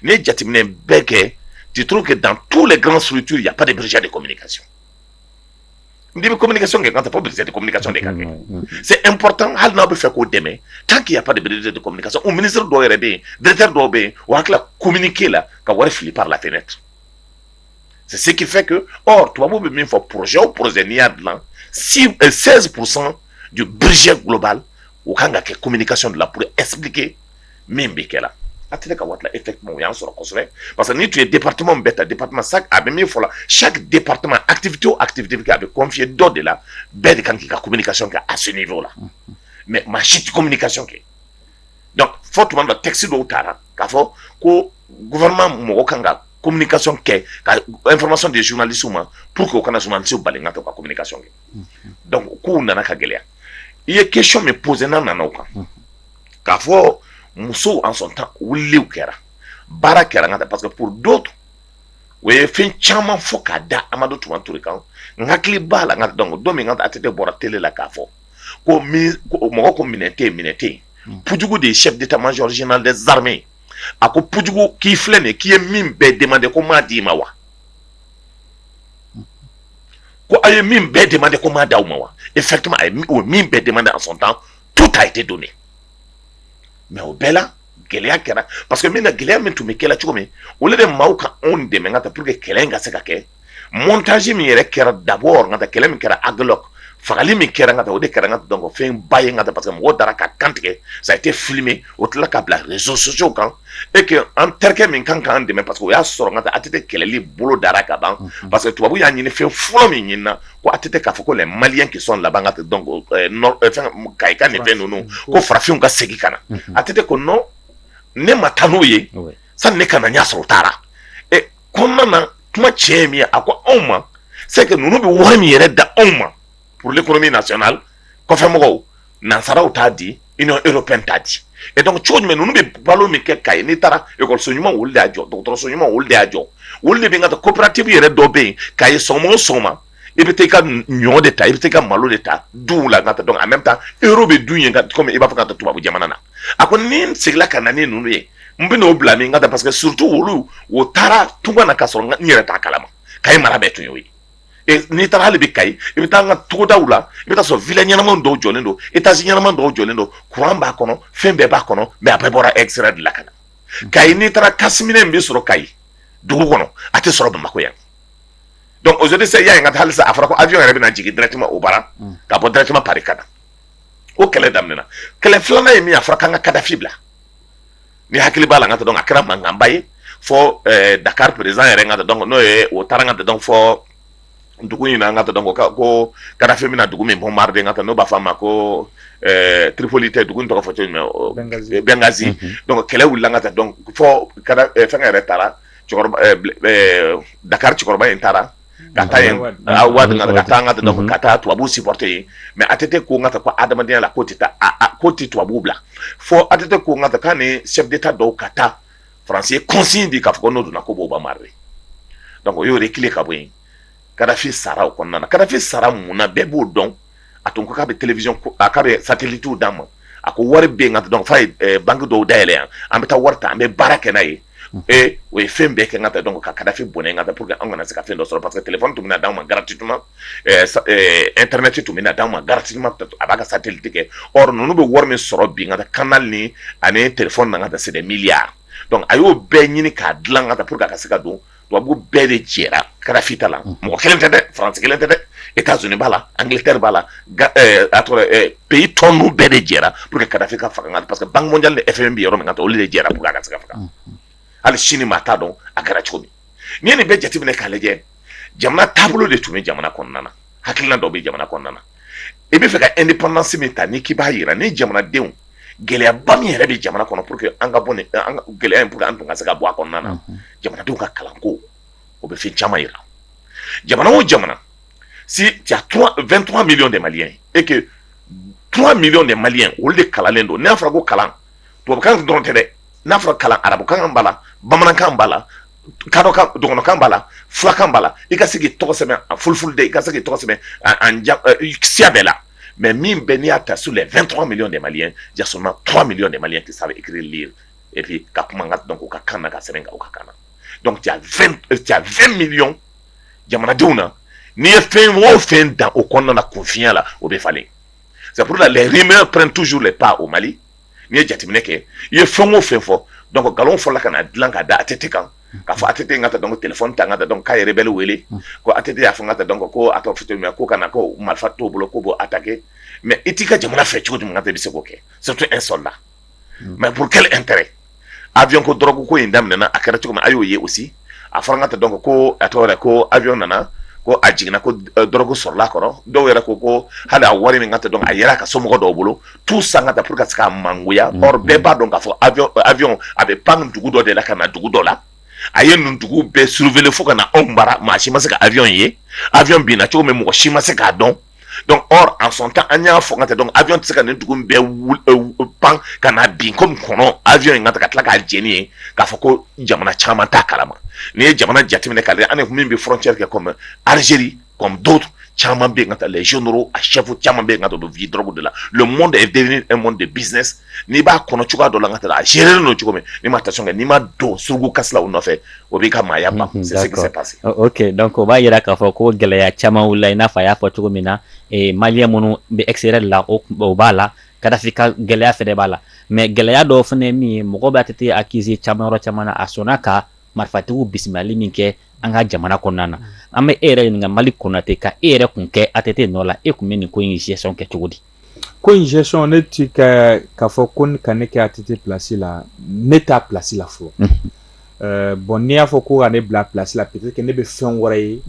n ye jateminɛ bɛɛ kɛ ciuru kɛ dan tu la garan surutu ya de bɛ de kɔmi kasi n'i bɛ communication kɛ fo budget de communication de ka kɛ c'est important hali n'aw b'a fɛ k'o dɛmɛ tant qu'il n'y a pas de ministre de communication o ministre dɔw yɛrɛ bɛ yen directeur dɔw bɛ yen u hakili la communiquer la ka wari fili par la fenêtre c'est ce qui fait que or tubabu bɛ min fɔ projet o projet n'i y'a dilan 16 pour cent du budget global o kan ka kɛ communication de la pour expliquer min bɛ kɛ a tɛ ne ka waati e tɛ o y'a sɔrɔ kosɛbɛ parce que ni tun ye di patw bɛɛ ta di patoma sa a bɛ min fɔ sa di patoma atibi to a tibiti a bɛ kɔnfiye dɔ de la bɛɛ de kan k'i ka kɛ a sen jɔ la mɛ maa si tɛ ka kɛ fɔ tuma da tɛsi dɔw taara k'a fɔ ko gma mɔgɔ kan ka kɔmi ka kɛ kama de zlisu ma pur que o kana sumasiw bali ka to ka kɛ dɔnku k'u nana ka gɛlɛya i ye kec min pzsee nana kan k'a fɔ musow en son temps wuli kɛra baara kɛra ka parce que donc u ye fɛn caman fɔ k'a da amadu tumani ture kan n hakili b'a la ka dɔn don min ka att bɔra tele la k'a fɔ ko mɔgɔ ko minɛn tɛ minɛn tɛ yen pujugu de ye chef d'état major général des armées a ko pujugu k'i filɛ nin k'i ye min bɛɛ demandé ko n m'a d'i ma wa ko a ye min bɛɛ demandé ko n m'a d'aw ma wa effectivement min bɛɛ demandé en son temps tout a été donné mais o bɛɛ la gɛlɛya kɛra parce que min na gɛlɛya min tun bɛ kɛlɛ cogo min olu de ma ka anw dɛmɛ ka ta pour que kɛlɛ in ka se ka kɛ montage min yɛrɛ kɛra dabɔ ka ta kɛlɛ min kɛra aguelhok fagali min kɛra ka ta o de kɛra ka dɔn fɛn ba ye ka ta parce que mɔgɔw dara k'u kan tigɛ ça a été filmé u tila k'a bila réseaux sociaux kan et que an terikɛ min ka kan k'an dɛmɛ parce que o y'a sɔrɔ ka ta att kɛlɛli bolodara ka ban parce que tubabu y'a ɲini fɛn fɔlɔ min ɲini na ko att k'a fɔ ko les maliens qui sont là-bas ka ka nin fɛn ninnu ko farafinw ka segin ka na att ko non ne ma taa n'u ye sani ne ka na y'a sɔrɔ u taara ɛ ko na kuma cɛ min ye a ko anw ma c'est que ninnu bɛ wari min yɛrɛ di anw ma pour l'économie nationale kɔfɛmɔgɔw nansaraw t'a di union européenne t'a di e dɔn cogo jumɛn ninnu bɛ balo min kɛ kayi n'i taara ekɔliso ɲuman olu y'a jɔ dɔgɔtɔrɔso ɲuman olu y'a jɔ olu de bɛ ka taa coopérative yɛrɛ dɔ bɛ yen kayi sɔgɔma o sɔgɔma i bɛ taa i ka ɲɔ de ta i bɛ taa ka malo de ta du la ka dɔn a bɛ taa euro bɛ don yen ka i b'a fɔ ka tubabu jamana na a ko ni n seginna ka na ni ninnu ye n bɛn'u bila min ka da parce que surtout olu u taara tunga na ka sɔrɔ n yɛrɛ t'a kalama kayi mara bɛɛ tun ye ye n'i taara hali bi kayi i bɛ taa an ka togodaw la i bɛ taa sɔrɔ villa ɲɛnama dɔw jɔlen don étage ɲɛnama dɔw jɔlen don kuran b'a kɔnɔ fɛn bɛɛ b'a kɔnɔ mais a bɛɛ bɔra extérieur de la ka na kayi n'i taara kasi minɛ bɛ sɔrɔ kayi dugu kɔnɔ a tɛ sɔrɔ bamakɔ yan donc aujourd'hui se y'a ye ka taa halisa a fɔra ko avion yɛrɛ bɛna jigin directement u bara ka bɔ directement paris ka na o kɛlɛ daminɛna kɛlɛ filanan ye min a fɔra an ka kadafi bila n'i hakili b'a la ka dɔn a kɛra mankanba ye fɔ dakari président yɛrɛ ka dɔn n'o ye o taara ka da dɔn fɔ dugu in na ka da dɔn ko ko kadafi bɛna na dugu min bombarder ka taa n'u b'a fɔ a ma ko tiripoli tɛ dugu tɔgɔ fɔ cogo benghazi donc kɛlɛ wulila ka fɛn yɛrɛ taara dakari cɛkɔrɔba in taara ka taa yen wade ka taa an ka dɔn ka taa tubabu supporter yen mais att ko n ka ko adamadenya la ko tɛ taa ko tɛ tubabu bila fo att ko n ka kan ni chef d'état dɔw ka taa faransi kɔsin de k'a fɔ n'u donna ko b'u bombarder donc o y'u reculer ka bɔ yen kadafi sara o kɔnɔna kadafi sara mun na bɛɛ b'o dɔn a tun ko k'a bɛ télévision ko a k'a bɛ satellite d'an ma a ko wari bɛ yen nka donc f'a ye banque dɔw dayɛlɛ yan an bɛ taa wari ta an bɛ baara kɛ n'a ye ee o ye fɛn bɛɛ kɛ ka bɛn donc ka Kadafi bɔnɛ ka bɛn pour que an kana se ka fɛn dɔ sɔrɔ parce que téléphone tun bɛna d'anw ma gratuitement internet tun bɛna d'anw ma gratuitement a b'a ka satellite kɛ or ninnu bɛ wari min sɔrɔ bi ka canal ni ani téléphone na ka bɛn c'est des milliards donc a y'o bɛɛ ɲini k'a dilan ka bɛn pour que a ka se ka don tubabu bɛɛ de jɛra Kadafi la mɔgɔ kelen tɛ dɛ France kelen tɛ dɛ États-Unis b'a la Angleterre b'a la pays tɔ ninnu bɛɛ de jɛra pour que Kadafi ka faga parce que banque mondiale ni FMI bɛ yɔrɔ min kan olu de jɛra ka cɛ faga hali sini maa t'a dɔn a kɛra cogo min n'i ye nin bɛɛ jateminɛ k'a lajɛ jamana taabolo de tun bɛ jamana kɔnɔna na hakili dɔ bɛ jamana kɔnɔna na i b'a fɛ ka indépendance min ta ni k'i b'a jira ni jamanadenw gɛlɛyaba min yɛrɛ bɛ jamana kɔnɔ pour que an ka bɔ gɛlɛya in bolo an tun ka se ka bɔ a kɔnɔna na jamanadenw ka kalanko o bɛ fɛn caman jira jamana o jamana si vingt millions de maliens e deux millions de maliens olu de kalanlen don n'a fɔra ko kalan tubabukan dɔrɔn tɛ dɛ n'a fɔra kalan arabukan b'a la bamanankan b'a la dɔgɔnkan b'a la fulakan b'a la i ka sigi tɔgɔ sɛbɛn a furu de i ka segin tɔgɔ sɛbɛn siya bɛɛ la mɛ min bɛn n'i y'a ta su la fɛn tɔgɔ min dɛmɛ ye jaso tuma min de ma tɛ sa ikili epi ka kuma ka dɔn k' ka kan ka sɛbɛn ka kan fɛn mi jamanadenw na n'i ye fɛn mɔgɔw fɛn dan o kɔnɔna na kunfiya la o bɛ falen sabula la lamɛn pɛrɛn tusu la pan o mali n'i ye jateminɛ kɛ i ye fɛn o fɛn fɔ donc nkalon fɔlɔ ka na dilan ka da ATT kan k'a fɔ ATT k'a t'a dɔn téléphone ta k'a dɔn k'a ye rebelles wele ko ATT y'a fɔ k'a t'a dɔn ko a ka fi min ko kana ko marifa t'o bolo k'o b'o attaquer mais i t'i ka jamana fɛ cogo jumɛn k'a ta bɛ se k'o kɛ surtout un soldat mais pour quel intérêt avion ko drogue ko in daminɛna a kɛra cogo a y'o ye o a fɔra k'a t'a dɔn ko a tɔgɔ ko avion nana ko a jiginna ko drogue sɔrɔla kɔrɔ dɔw yɛrɛ ko ko hali a wari min k'a t'a dɔn a yɛrɛ ka somɔgɔ dɔw bolo tout ça pour qu'a ka se ka mangoya or bɛɛ b'a dɔn k'a fɔ avion a bɛ pan dugu dɔ de la ka na dugu dɔ la a ye nin dugu bɛɛ survoler fo ka na anw bara maa si ma se ka avion ye avion binna cogo min mɔgɔ si ma se k'a dɔn dɔnku ɔ a sɔn ka an y'a fɔ ka tɛ dɔn awy tɛ se ka nin dugu bɛɛ pan ka na bin ko kɔnɔ awy in ka ka tila k'a lajɛlen ye k'a fɔ ko jamana caman ta kalama n'i ye jamana jateminɛ ka ani min bɛ f cɛri kɛ kɔnɔ alizeri kɔnɔnto caman bɛ ka taa lajɛzo a shɛfu caman bɛ ka don v dɔrɔnbu de la mɔn de ye den mɔn de binzsinɛ n'i b'a kɔnɔ cogoya dɔ la ka taa a gérer don cogo min ni ma ta sɔn n'i ma don suruku kasi u nɔfɛ o b'i ka maaya ma donc o b'a jira k'a fɔ ko gɛlɛya caman wulila i n'a fɔ a y'a fɔ cogo min na maliens minnu bɛ extérieur la o b'a la kadafi ka gɛlɛya fana b'a la mais gɛlɛya dɔw fana min ye mɔgɔ bɛ ATT accuser caman yɔrɔ caman a sɔnna ka marifatigiw bisimilali min kɛ an ka jamana kɔnɔna na an bɛ e yɛrɛ ɲininka malick konaté ka e yɛrɛ tun kɛ ATT nɔ la e tun bɛ nin ko in gestion kɛ cogo di ko in gestion ne tɛ ka k'a fɔ ko ka ne kɛ ATT plasi la ne t'a plasi la fɔlɔ bon n'i y'a fɔ ko ka ne bila plasi la peut-être ne bɛ fɛn wɛrɛ ye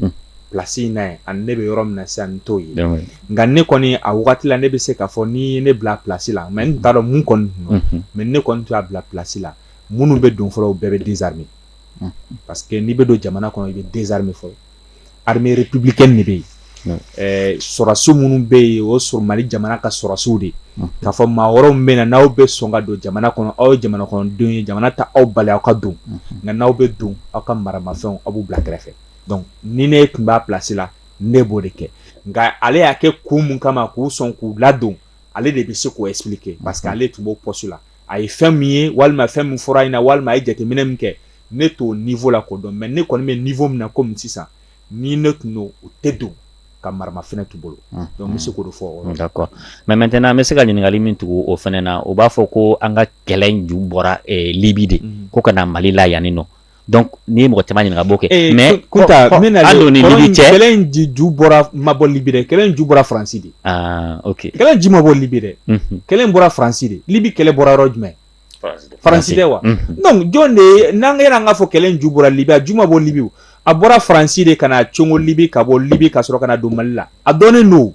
plasi in na ani ne bɛ yɔrɔ min na sisan n t'o ye nka ne kɔni a waati la ne bɛ se k'a fɔ ni ne bila plasi la mais n t'a dɔn mun kɔni mais ne kɔni t'a bila plasi la minnu bɛ don fɔlɔ bɛɛ bɛ désarmer parce que n'i bɛ don jamana kɔnɔ i bɛ désarmer fɔlɔ armée républicaine de bɛ yen, un, ɛɛ sɔrɔdasi minnu bɛ yen o ye Mali jamana ka sɔrɔdasiw de ye, unhun, k'a fɔ maa wɛrɛw min bɛ na n'aw bɛ sɔn ka don jamana kɔnɔ aw ye jamana kɔnɔdenw ye jamana tɛ aw bali aw ka don, unhun, nka n'aw bɛ don aw ka maramafɛnw aw b'u bila kɛrɛfɛ donc ni ne tun b'a place la ne b'o de kɛ nka ale y'a kɛ kun min kama k'u sɔn k'u ladon ale de bɛ se k'o expliquer parce que ale tun b'o poste la a ye fɛn min ye walima fɛn min fɔra a ɲɛ na walima a ye jateminɛ min kɛ ne t'o niveau la k'o dɔn mais ne kɔni bɛ niveau min na komi sisan ni ne tun don u tɛ don ka maramafɛn to u bolo donc n bɛ se k'o fɔ d'accord mais maintenant n bɛ se ka ɲininkali min tugu o fana na u b'a fɔ ko an ka kɛlɛ ju bɔra libi de ko ka na mali la yanni nɔ donc n'i ye mɔgɔ caman ɲininka bon kɛlɛ in ju bɔra ma bɔ libi kɛlɛ ju bɔra faransi de kɛlɛ ju ma bɔ libi dɛ kɛlɛ bɔra faransi de libi kɛlɛ bɔra yɔrɔ jumɛn faransi tɛ wa jɔn de ye n'an kɛra an b'a fɔ kɛlɛ ju bɔra libi ju ma bɔ libi a bɔra faransi de ka na cogo libi ka bɔ libi ka sɔrɔ ka don mali la a dɔnnen don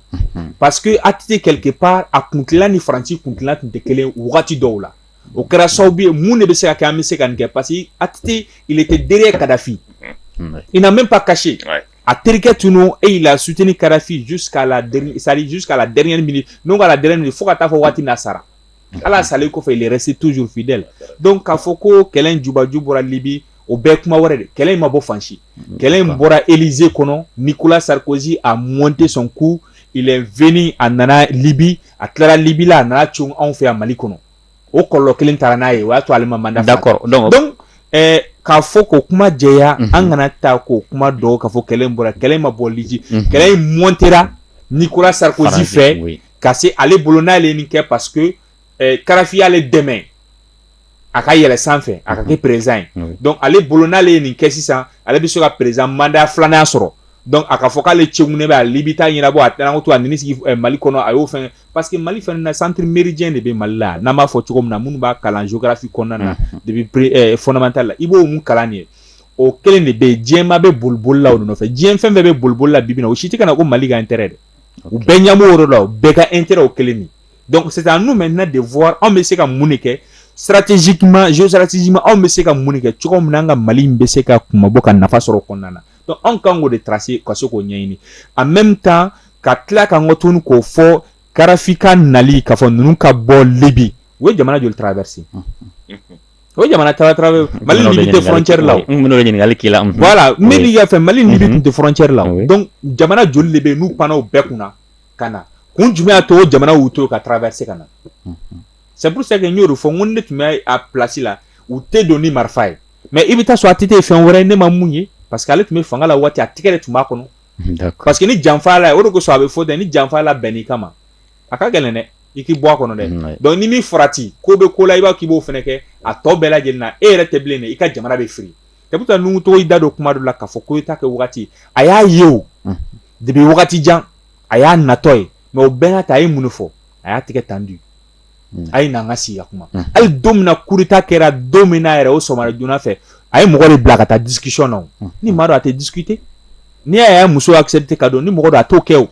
parce que ATT quelque part a kunla ni faransi kunla tun tɛ kelen dɔw la o kɛra sababu ye mun de bɛ se ka kɛ an bɛ se ka nin kɛ parce que il était derrière kadafi il n'a même pas caché a terikɛ tun il a soutenu kadafi jusqu'à la sari jusqu'à la dernière minute k'a dɛmɛ fo ka taa fɔ waati na sara hali a salen kɔfɛ yɛrɛ c'est toujours fidèle donc k'a fɔ ko kɛlɛ jubaju bɔra libi o bɛɛ kuma wɛrɛ de kɛlɛ in ma bɔ fan si kɛlɛ in bɔra élysée kɔnɔ nicolas sarkozy a monté son coup de a nana libi a tilara libi la a nana cun anw fɛ yan mali kɔnɔ o kɔlɔ kelen taara n'a ye o y'a to ale ma mandat sɔrɔ k'a fɔ ko kuma jɛya an kana taa ka kuma dogo k'a fɔ kɛlɛ bɔra kɛlɛ ma bɔ libi kɛlɛ in mɔntera nicolas sarkozy fɛ ka se ale bolo n'ale nin kɛ parce que kadafi y'ale dɛmɛ a ka yɛlɛ sanfɛ a ka kɛ président ye donc ale bolo n'ale ye nin kɛ sisan ale bɛ se ka président manda filanan sɔrɔ donc a ka fɔ k'ale cɛ ne bɛ ale bɛ taa ɲɛnabɔ a taara to a sigi mali kɔnɔ a y'o kɛ parce que mali fana na ressources minières de bɛ mali la n'a b'a fɔ cogo min na minnu b'a kalan sukafisi kɔnɔna na de fondamental la i b'o kalan yen o kelen de bɛ diɲɛba bɛ bolibolila nɔfɛ diɲɛ fɛn bɛɛ bɛ bolibolila bi o si tɛ ka na ko mali kanu tɛ dɛ u bɛɛ ɲɛmɔgɔ la bɛɛ ka intérêt o kelen de donc c'est à nous maintenant de voir anw bɛ se ka mun de kɛ stratégiquement géostratégiquement anw bɛ se ka mun kɛ cogo min an ka mali bɛ se ka kun bɔ ka nafa sɔrɔ kɔnɔna na anw kan de taarase ka se k'o ɲɛɲini a maintenant ka tila ka encore tun k'o fɔ karifin nali ka fɔ ninnu ka bɔ libi o ye jamana joli traverser o jamana tɛ la mali tɛ la jamana joli de bɛ n'u pan bɛɛ kunna ka na kun jumɛn y'a to jamana y'u to ka taara bɛ se ka na sabuse y'o fɔ ko ne tun bɛ a plasi la u tɛ don ni marifa ye mais i bɛ taa sɔrɔ ATT fɛn wɛrɛ ye ne ma min ye parce que ale tun bɛ fanga la waati a tigi yɛrɛ de tun b'a kɔnɔ parce que ni janfa la o de kosɔn a bɛ fɔ ten ni janfa labɛnna i kama a ka gɛlɛn dɛ i k'i bɔ a kɔnɔ dɛ donc ni min fara ten ko bɛ ko la i b'a k' b'o fana kɛ a tɔ bɛɛ lajɛlen na e yɛrɛ tɛ bilen i ka jamana bɛ fili ka bɛ taa nugu tɔgɔ i da don kuma la ka fɔ ko i ta kɛ waati a y'a ye o depuis wagati jan a y'a natɔ ye mais o bɛɛ n'a ta a ye mun fɔ a y'a tigɛ tan di hmm. a ye na ka siya kuma hmm. hali don min na coup d'état kɛra don min na yɛrɛ o sɔgɔma joona fɛ a ye mɔgɔ de bila ka taa discussion na hmm. ni maa don a tɛ discuter n'i y'a y'a muso accepter ka don ni mɔgɔ don a t'o kɛ o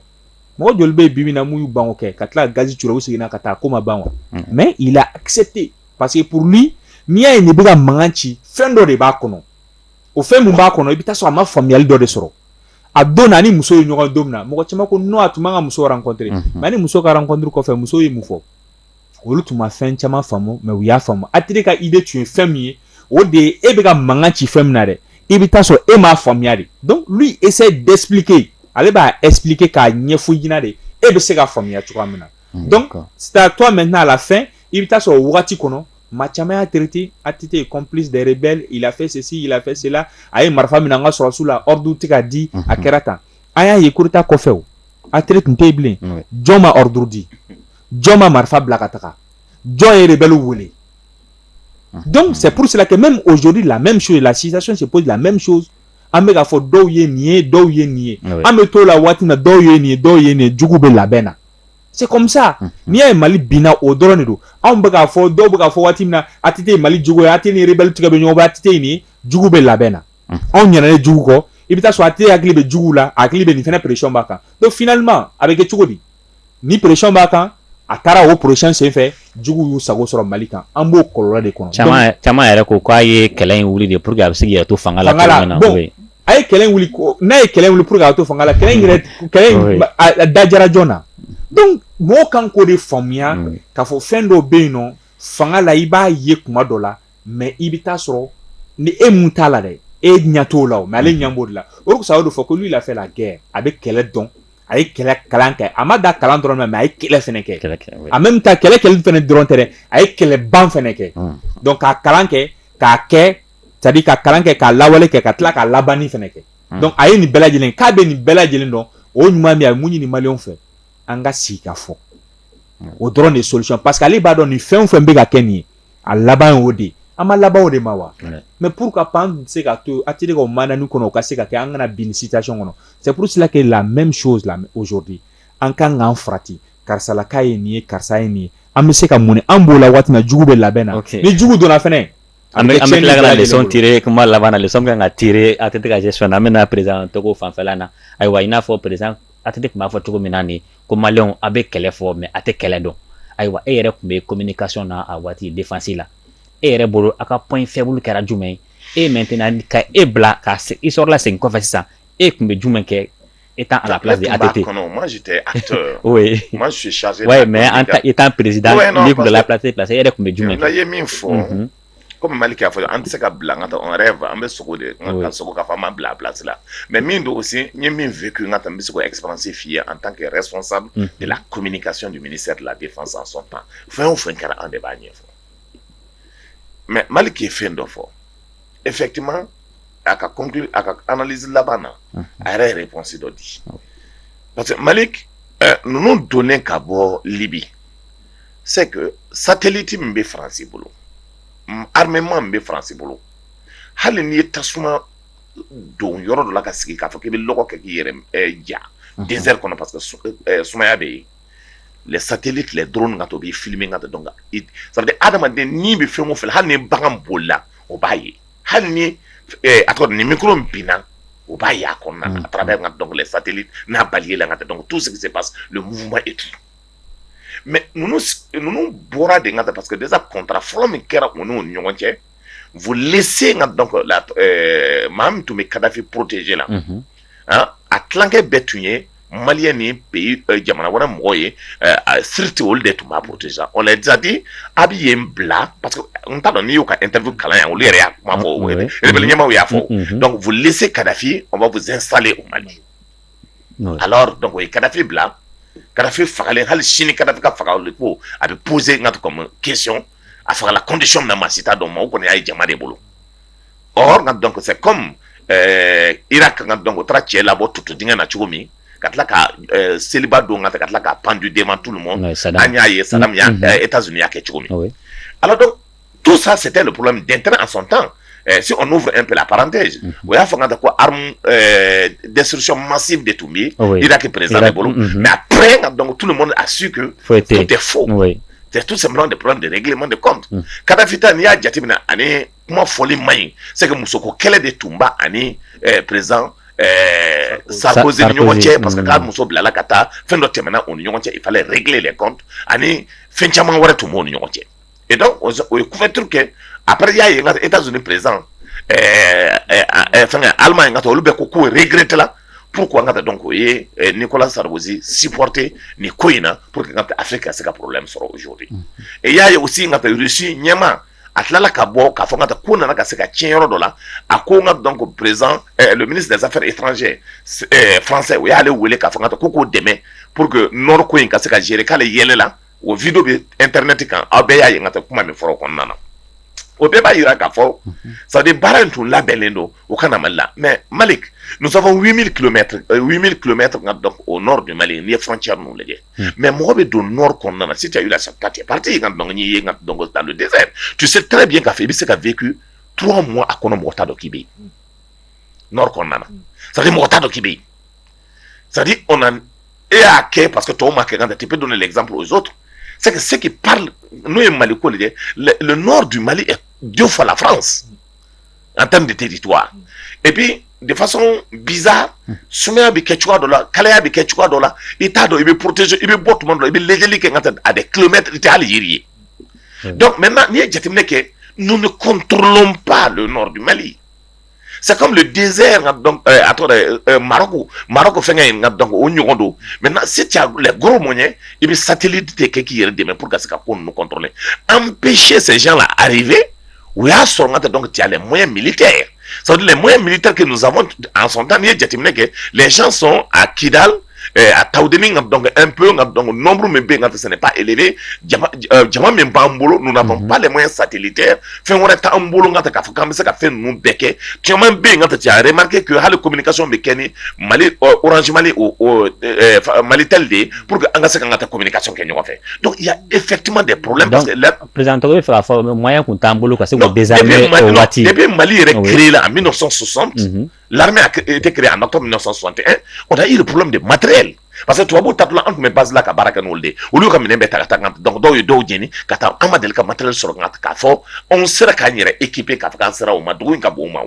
mɔgɔ joli bɛ bi min na mun y'u ban kɛ ka tila gazi ci u seginna ka taa ko ma ban wa mais il a accepté parce que pour lui n'i y'a ye nin bɛ ka mankan ci fɛn dɔ de b'a kɔnɔ o fɛn min b'a kɔnɔ i bɛ taa sɔrɔ a ma faamuyali dɔ de sɔrɔ a donna a ni muso ye ɲɔgɔn don min na mɔgɔ caman ko non a tun man ka muso rencontrer nka ni muso ka rencontre kɔfɛ muso ye mun fɔ olu tun ma fɛn caman faamu mais u y'a faamu ATT ka idée tun ye fɛn min ye o de ye e bɛ ka mankan ci fɛn min na dɛ i bɛ taa sɔrɔ e m'a faamuyaya de donc lui essaye d'expliquer ale b'a expliquer k'a ɲɛfɔ i ɲɛna de e bɛ se ka faamuyaya cogoya min na donc c'est à toi maintenant à la fin i bɛ taa sɔrɔ o waati kɔnɔ maa caman y'a traiter ATT ye complice bɛ i lafesesi lafesela a ye marifa minɛ an ka sɔrɔsiw la ordre tɛ ka di a kɛra kan a y'a ye coup d'état kɔfɛ ATT tun tɛ bilen jɔn ma ordre di jɔn ma marifa bila ka taga jɔn yɛrɛ de bɛ wele donc c'est pour cela que même aujourd'hui là même si la situation se foyi la même si an bɛka ka fɔ dɔw ye nin ye dɔw ye nin ye an bɛ to la waati na dɔw ye nin dɔw ye nin jugu bɛ labɛn na c'est comme ça n'i y'a ye mali binna o dɔrɔn de don anw bɛ k'a fɔ dɔw bɛ k'a fɔ waati min na ATT mali jugu ye ATT ni rebɛli tɛgɛ bɛ ɲɔgɔn waati nin jugu bɛ labɛn na anw ɲinɛna jugu kɔ i bɛ taa sɔrɔ ATT hakili bɛ jugu la a hakili bɛ nin fana presiɔn b'a kan donc finalement a bɛ kɛ cogo di ni presiyɔn b'a kan a taara o presiyɔn senfɛ jugu y'u sago sɔrɔ mali kan an b'o kɔlɔlɔ de kɔnɔ caman yɛrɛ ko k'a ye kɛlɛ in wuli de pour que a bɛ se to fanga la a ye kɛlɛ wuli n'a ye kɛlɛ wuli pour que a to fanga la kɛlɛ in yɛrɛ kɛlɛ in a dajara joona na donc mɔgɔw kan k'o de faamuya mm. k'a fɔ fɛn dɔw bɛ yen nɔ fanga la i b'a ye kuma dɔ la mais i bɛ taa sɔrɔ ni e mun t'a la dɛ e ɲɛ t'o la o mais ale mm. ɲɛ b'o de la o de kosɔn a y'o de fɔ ko lui il a fait la guerre a bɛ kɛlɛ dɔn a ye kɛlɛ kalan kɛ a ma da kalan dɔrɔn na mais a ye kɛlɛ fɛnɛ kɛ en même temps kɛlɛ kɛli fɛnɛ dɔrɔn tɛ dɛ a ye kɛlɛ ban fɛnɛ kɛ mm. donc k'a kalan kɛ k'a kɛ c'est-à-dire k'a kalan kɛ k'a lawale kɛ ka tila k'a labanni fana kɛ donc a ye nin bɛɛ lajɛlen kɛ a bɛ nin bɛɛ lajɛlen dɔn o ɲuman min a ye mun ɲini mali fɛ an ka sigi k'a fɔ o dɔrɔn de solution parce que ale b'a dɔn nin fɛn o fɛn bɛ ka kɛ nin ye a laban o de an ma laban de ma wa mais pour que pan se ka to a terikaw mali kɔnɔ u ka se ka kɛ an kana bin situation kɔnɔ cɛpsila kɛ la mɛ misiw la oodi an ka k'an farati karisalakaw ye nin ye karisa ye nin ye an bɛ se ka mun an b'o la waati jugu bɛ labɛn na ni jugu donna fana An bɛ tila ka leçon tirer kuma laban na leçon min ka kan ka tirer ATT ka gestion na an bɛna président Togo fanfɛla na ayiwa i n'a fɔ président ATT tun b'a fɔ cogo min na nin ko maliyɛnw a' bɛ kɛlɛ fɔ mais a' tɛ kɛlɛ dɔn ayiwa e yɛrɛ tun bɛ communication na a waati défense la e yɛrɛ bolo a' ka point faible kɛra jumɛn ye e maintenant ka e bila ka i sɔrɔla segin kɔfɛ sisan e tun bɛ jumɛn kɛ e tan ala psi a tɛ mɛ an i tan peresi la plase plase e yɛrɛ tun bɛ j ye min fɔ ko mali k' fɔ an tɛ se ka bila an ka taa yɛrɛ fɛ an bɛ sogo de ma bila plasi la mɛ min don se ye min fɛ k' ka taa n bɛ se ka epsi f'i ye an tan kɛɛrɛ sɔsan de la ko mini ka sun dumuni seri la de fasa sɔn tan fɛn o fɛn kɛra an de b'a ɲɛ ɲɛfɔ mɛ mali k'i ye fɛn dɔ fɔ effectivement a ka conclu a ka analyse laban na a yɛrɛ ye réponse dɔ di parce que maliki ninnu donnen ka bɔ libi c'est que satellite min bɛ faransi bolo armement min bɛ faransi bolo hali n'i ye tasuma don yɔrɔ dɔ la ka sigi k'a fɔ k'i bɛ lɔgɔ kɛ k'i yɛrɛ ja désert kɔnɔ parce que sumaya bɛ yen lasateli tile dɔrɔn ka to b'i fili min ka da dɔn kan adamadamaden min bɛ fɛn o fɛ hali ni bagan boli la o b'a ye hali ni a nin min binna o b'a y' a kɔnɔ a taara ka dɔnkili sa n'a bali la ka tɛ dɔn tu sigi se pa munba e tun mɛ ninnu bɔra de ka parce que dɛsɛsa kɔnta fɔlɔ min kɛra u n'u ɲɔgɔn cɛ fo le ka dɔn maa min tun bɛ kadafi porotee la a tilankɛ bɛɛ tun ye mali ni jamana wɛrɛ mɔgɔ ye sécurité olu de tun b'a bolo c'est à dire a bɛ yen bila parce que n t'a dɔn n'i y'u ka interview kalan yan olu yɛrɛ ɲɛmaaw y'a fɔ donc c'est kadafi o bɛ zen sa o mali donc kadafi bila kadafi fagalen hali sini ka ka faga ko a bɛ pzse in ka question a fagala condition na maa si t'o dɔn mais o kɔni y'a ye jama de bolo ɔ nka dɔn kosɛbɛ kɔmi ira ka ka dɔn o taara cɛ labɔ tutu denkɛ na cogo min ka tila ka seliba don ka ka tila ka panju den ma tu ma an y'a ye san e ta z y'a kɛ cogo min ala dɔn tu sa sɛ tɛ bolo min den a sɔn tan se o n'u fɛ pla parante o y'a fanga ta ko dɛsɛsiriti masi de tun bɛ yen ira kɛ perez de bolo mɛ a pɛ ka dɔn tu mɔn a su foyi tɛ fo tɛ tu sɛ de p de gman de kɔ kadafita n'i y'a jateminɛ ani kuma fɔli man ɲi se ka musoko kɛlɛ de tunba ani perez sa ɲɔgɔn cɛ pa que k'a muso bilala ka taa fɛn dɔ tɛmɛna u ni ɲɔgɔn cɛ i fa gɛlɛn de ani fɛn caman wɛrɛ tun b' ni ɲɔgɔn cɛ e o ye kuɛturu kɛ a y'a ye e ka zoni perez fɛn alima in ka taa olu bɛ ko ko gtila pur an ka dɔn k'o ye ni ko saradzi siporote ni ko in na p que a fɛ ka se ka porolenmi sɔrɔ o cogo e y'a ye u sin ka taa rusi ɲɛma a tilala ka bɔ k'a fɔ ka taa ko nana ka se ka tiɲɛ yɔrɔ dɔ la a ko n ka dɔn ko président ministre des affaires étrangères français o y'ale wele k'a fɔ ka taa ko k'o dɛmɛ pour que nord ko in ka se ka gérer k'ale yɛlɛla o video bɛ internet kan aw bɛɛ y'a ye n ka taa kuma min fɔra kɔnɔna na o bɛɛ b'a jira k'a fɔ c'est à dire baara in tun labɛnnen don o ka na mali la mais malik nous avons 8000 kilomètres 8000 kilomètres ka dɔn au nord du mali n'i ye frontière ninnu lajɛ mɛ mɔgɔ bɛ don n kɔnɔna si tɛ la sa pa pa ye ka dɔn ye ka dɔn tan don de tu se tɛ bɛ ka fɛ i bɛ se ka v tu mɔgɔ a kɔnɔ mɔgɔ ta dɔ k'i bɛ yen n kɔnɔna sa mɔgɔ ta dɔ k'i bɛ yen sa o e y'a kɛ pa que tɔw ma kɛ kan tɛp don ne zanp o soo se se pa n'o ye mali ko de dɛ n dun mali jo fa la fara an tɛ de tɛ di to epi defa sɔn biza sumayaya bɛ kɛ cogoya dɔ la kalaya bɛ kɛ cogoya dɔ la i t'a dɔn i bɛ porotez i bɛ bɔ tuma dɔn i bɛ lajɛli kɛ ka a bɛ kulomɛ tɛ hali jiri ye mɛ n' ye jateminɛ kɛ n bɛ kɔntɔn ba don nɔɔrɔ mali sa densɛn ka a tɔgɔ mara mara fɛnkɛ in ka dɔn o ɲɔgɔn don mɛ se t goro mɔn ɲɛ i bɛ sati de kɛ k'i yɛrɛ dɛmɛ p ka se ka ko kɔntɔn an bɛ sɛ la aree u y'a sɔrɔ ka tɛ dɔn caya mɔ mili tɛ ye sa mɔ mili ta kɛ san anson tan ni ye jateminɛ kɛ lɛnɛn sɔn a kida a taawud ka dɔnkɛ np ka dɔn nɔnmuru min bɛ ka sɛnɛ ba e jama min b'an bolo b'alema sa tɛ fɛn wɛrɛ t'an bolo ka k'a fɔ k' bɛ se ka fɛn ninnu bɛɛ kɛ cɛman bɛ yen ka caya'rike kɛ hali kɔmi kasɔn bɛ kɛ ni mali oransi mali mali tali de ye pur que an ka se ka ka taa kɔmi kasɔn kɛ ɲɔgɔn fɛ e fɛti de poro perezan bɛ fɛ fɔ maya tun t'an bolo ka se waati la mali yɛrɛ ki la a bɛ sɔn sonsɔn la tɛ ki a ma to sɔn sɔn tɛ o da yiri bolo de mare la parce que tubabu ta an tun bɛ bala ka baara kɛ n' de olu ka minɛ bɛ ta taa dɔgɔtɔrɔw ye dɔw ɲini ka taa an ma deli ka matɛ sɔrɔ k'a fɔ anw sera k'an yɛrɛ ekip k'a an sera o ma dugu in ka bon ma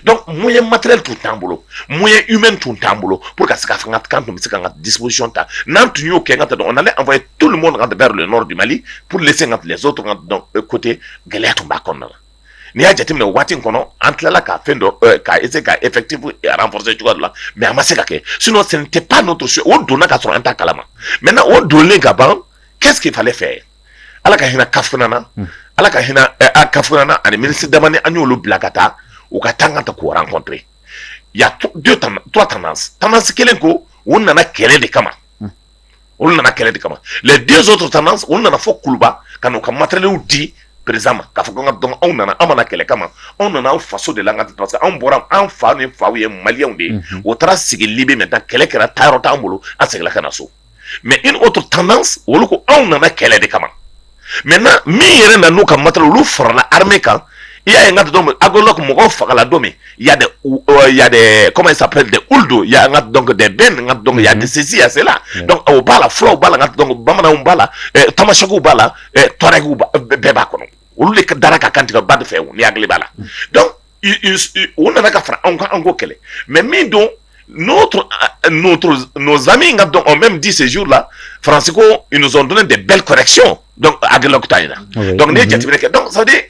dɔn mun ye matɛ tun t'an bolo mun ye u mɛn tun t'an bolo po ka se ka fanga kan tun bɛ se ka ka disisɔnɔn ta n'an tun y'o kɛ ka taa dɔn an ye to min mɔn ka da la nɔrɔ di mali pur de se ka bilaso tun ka dɔn kote gɛlɛya tun b'a kɔnɔna la n'i y'a jateminɛ o waati in kɔnɔ an tilala ka fɛn dɔ ka ese ka e fɛti fɔra cogoya la mɛ a ma se ka kɛ sun sen tɛ pan don to so o donna ka sɔrɔ an ta kalama mɛ o donlen ka ban kɛssifalen fɛ ala ka hinɛ Kafougouna ala ka hinɛ Kafougouna ani minisiri dama an y'olu bila ka taa u ka taa ka taa k'u rencontrer il y a trois tendances tendance kelen ko u nana kɛlɛ de kama olu nana kɛlɛ de kama les deux autres tendances olu nana fɔ Kuluba ka n'u ka materiyɛliw di président ma k'a fɔ ka donc anw ma na aw kɛlɛ kama anw nana anw faso de la ka anw bɔra anw fa ni ba ye malienw de ye o taara sigi Libye taa kɛlɛ kɛra taa yɔrɔ t'an bolo an seginna ka na so mais une autre tendance olu ko anw nana kɛlɛ de kama maintenant min yɛrɛ nana n'u ka matériel olu farala armée kan i y'a ye n ka donc Aguelhok mɔgɔw fagala don min y a des y a des kɔmi sa de olu don y a ka donc des bɛn nin ka donc y a ni ceci y a cela o b'a la fulaw b'a la ka donc bamananw b'a la tamasɛkiw b'a la tɔrɔw bɛɛ b'a kɔnɔ olu de ka da ka kantigɛ ba de fɛ u n'i hakili b'a la u nana ka fara anw kan an k'o kɛlɛ mais min don nos amis ka donc ont même dit ce jour-là faransi ko ils nous ont donné de belles corrections Aguelhok bɛ taa in na donc n'i ye jateminɛ kɛ donc ça veut dire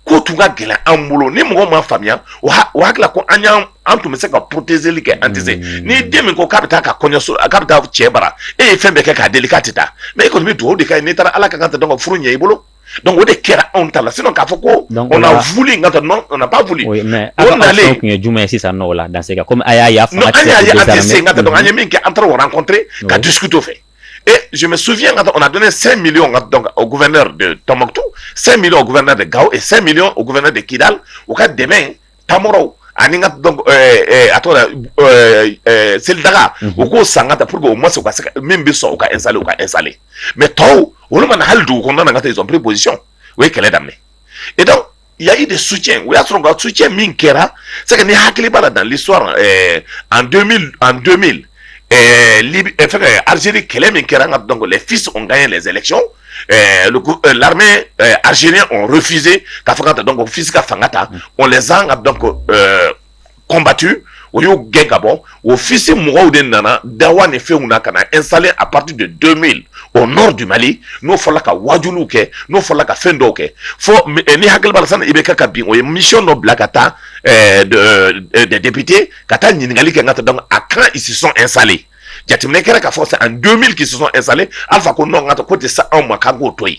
ko tun ka gɛlɛn an bolo ni mɔgɔ m'a faamuya o hakili la ko an an tun bɛ se ka porotezeli kɛ an tɛ se n'i den min ko k'a bɛ taa ka kɔɲɔso k'a bɛ taa cɛ bara e ye fɛn bɛɛ kɛ k'a deli k'a tɛ taa mais e kɔni bɛ dugawu de kɛ n'i taara ala ka kan tɛ donc ka furu ɲɛ i bolo donc o de kɛra anw ta la sinon k'a fɔ ko Donc, on o a la- voulu nka non on n'a pas voulu Oui, mais o aw ka nalen action tun ye jumɛn ye sisan nɔ o la dans ce cas komi a y'a ye a non fanga an tɛ y'a essayer ka an tɛ se nka donc an ye désarmer. min kɛ an taara o rencontrer ka Oui. discuter o fɛ et je me souviens quand on a donné 5 millions quand- donc, au gouverneur de Tombouctou 5 millions au gouverneur de Gao et 5 millions au gouverneur de Kidal u ka dɛmɛ tan ani ka a tora seli daga u k'o san kata pour que ma se ka min bɛ sɔn u ka esa u ka esa mais tɔw olu ma na hali dugu kɔnɔna ka tɛɔnpre position u ye kɛlɛ daminɛ et donc y avait des soutiens o y'a sɔrɔ ka soutien min kɛra c'est que ni hakili b'a la dans l'histoire en en 2000 fɛn alizeri kɛlɛ min kɛra an ka dɔnkili fi sɔn ka ye lajɛɛlɛc aliz fize ka fanga ta dɔn fi ka fanga ta o zan ka dɔn ko kɔnbati o y'o gɛn ka bɔ o fisi mɔgɔw de nana da ni fɛnw na ka na e sa a pati de don min o nɔ di mali n'o fɔra ka wajw kɛ n'o fɔra ka fɛn dɔw kɛ fɔ ni hakililibali fana i bɛ kɛ ka bin o ye misi dɔ bila ka taa debite ka taa ɲininkakali kɛ ka taa dɔn a kan i sisɔn e salen jateminɛ kɛra ka fɔ c'est en 2000 qu'ils se sont installés alpha ko non ngata ko tɛ sa anw ma k'an k'o to yen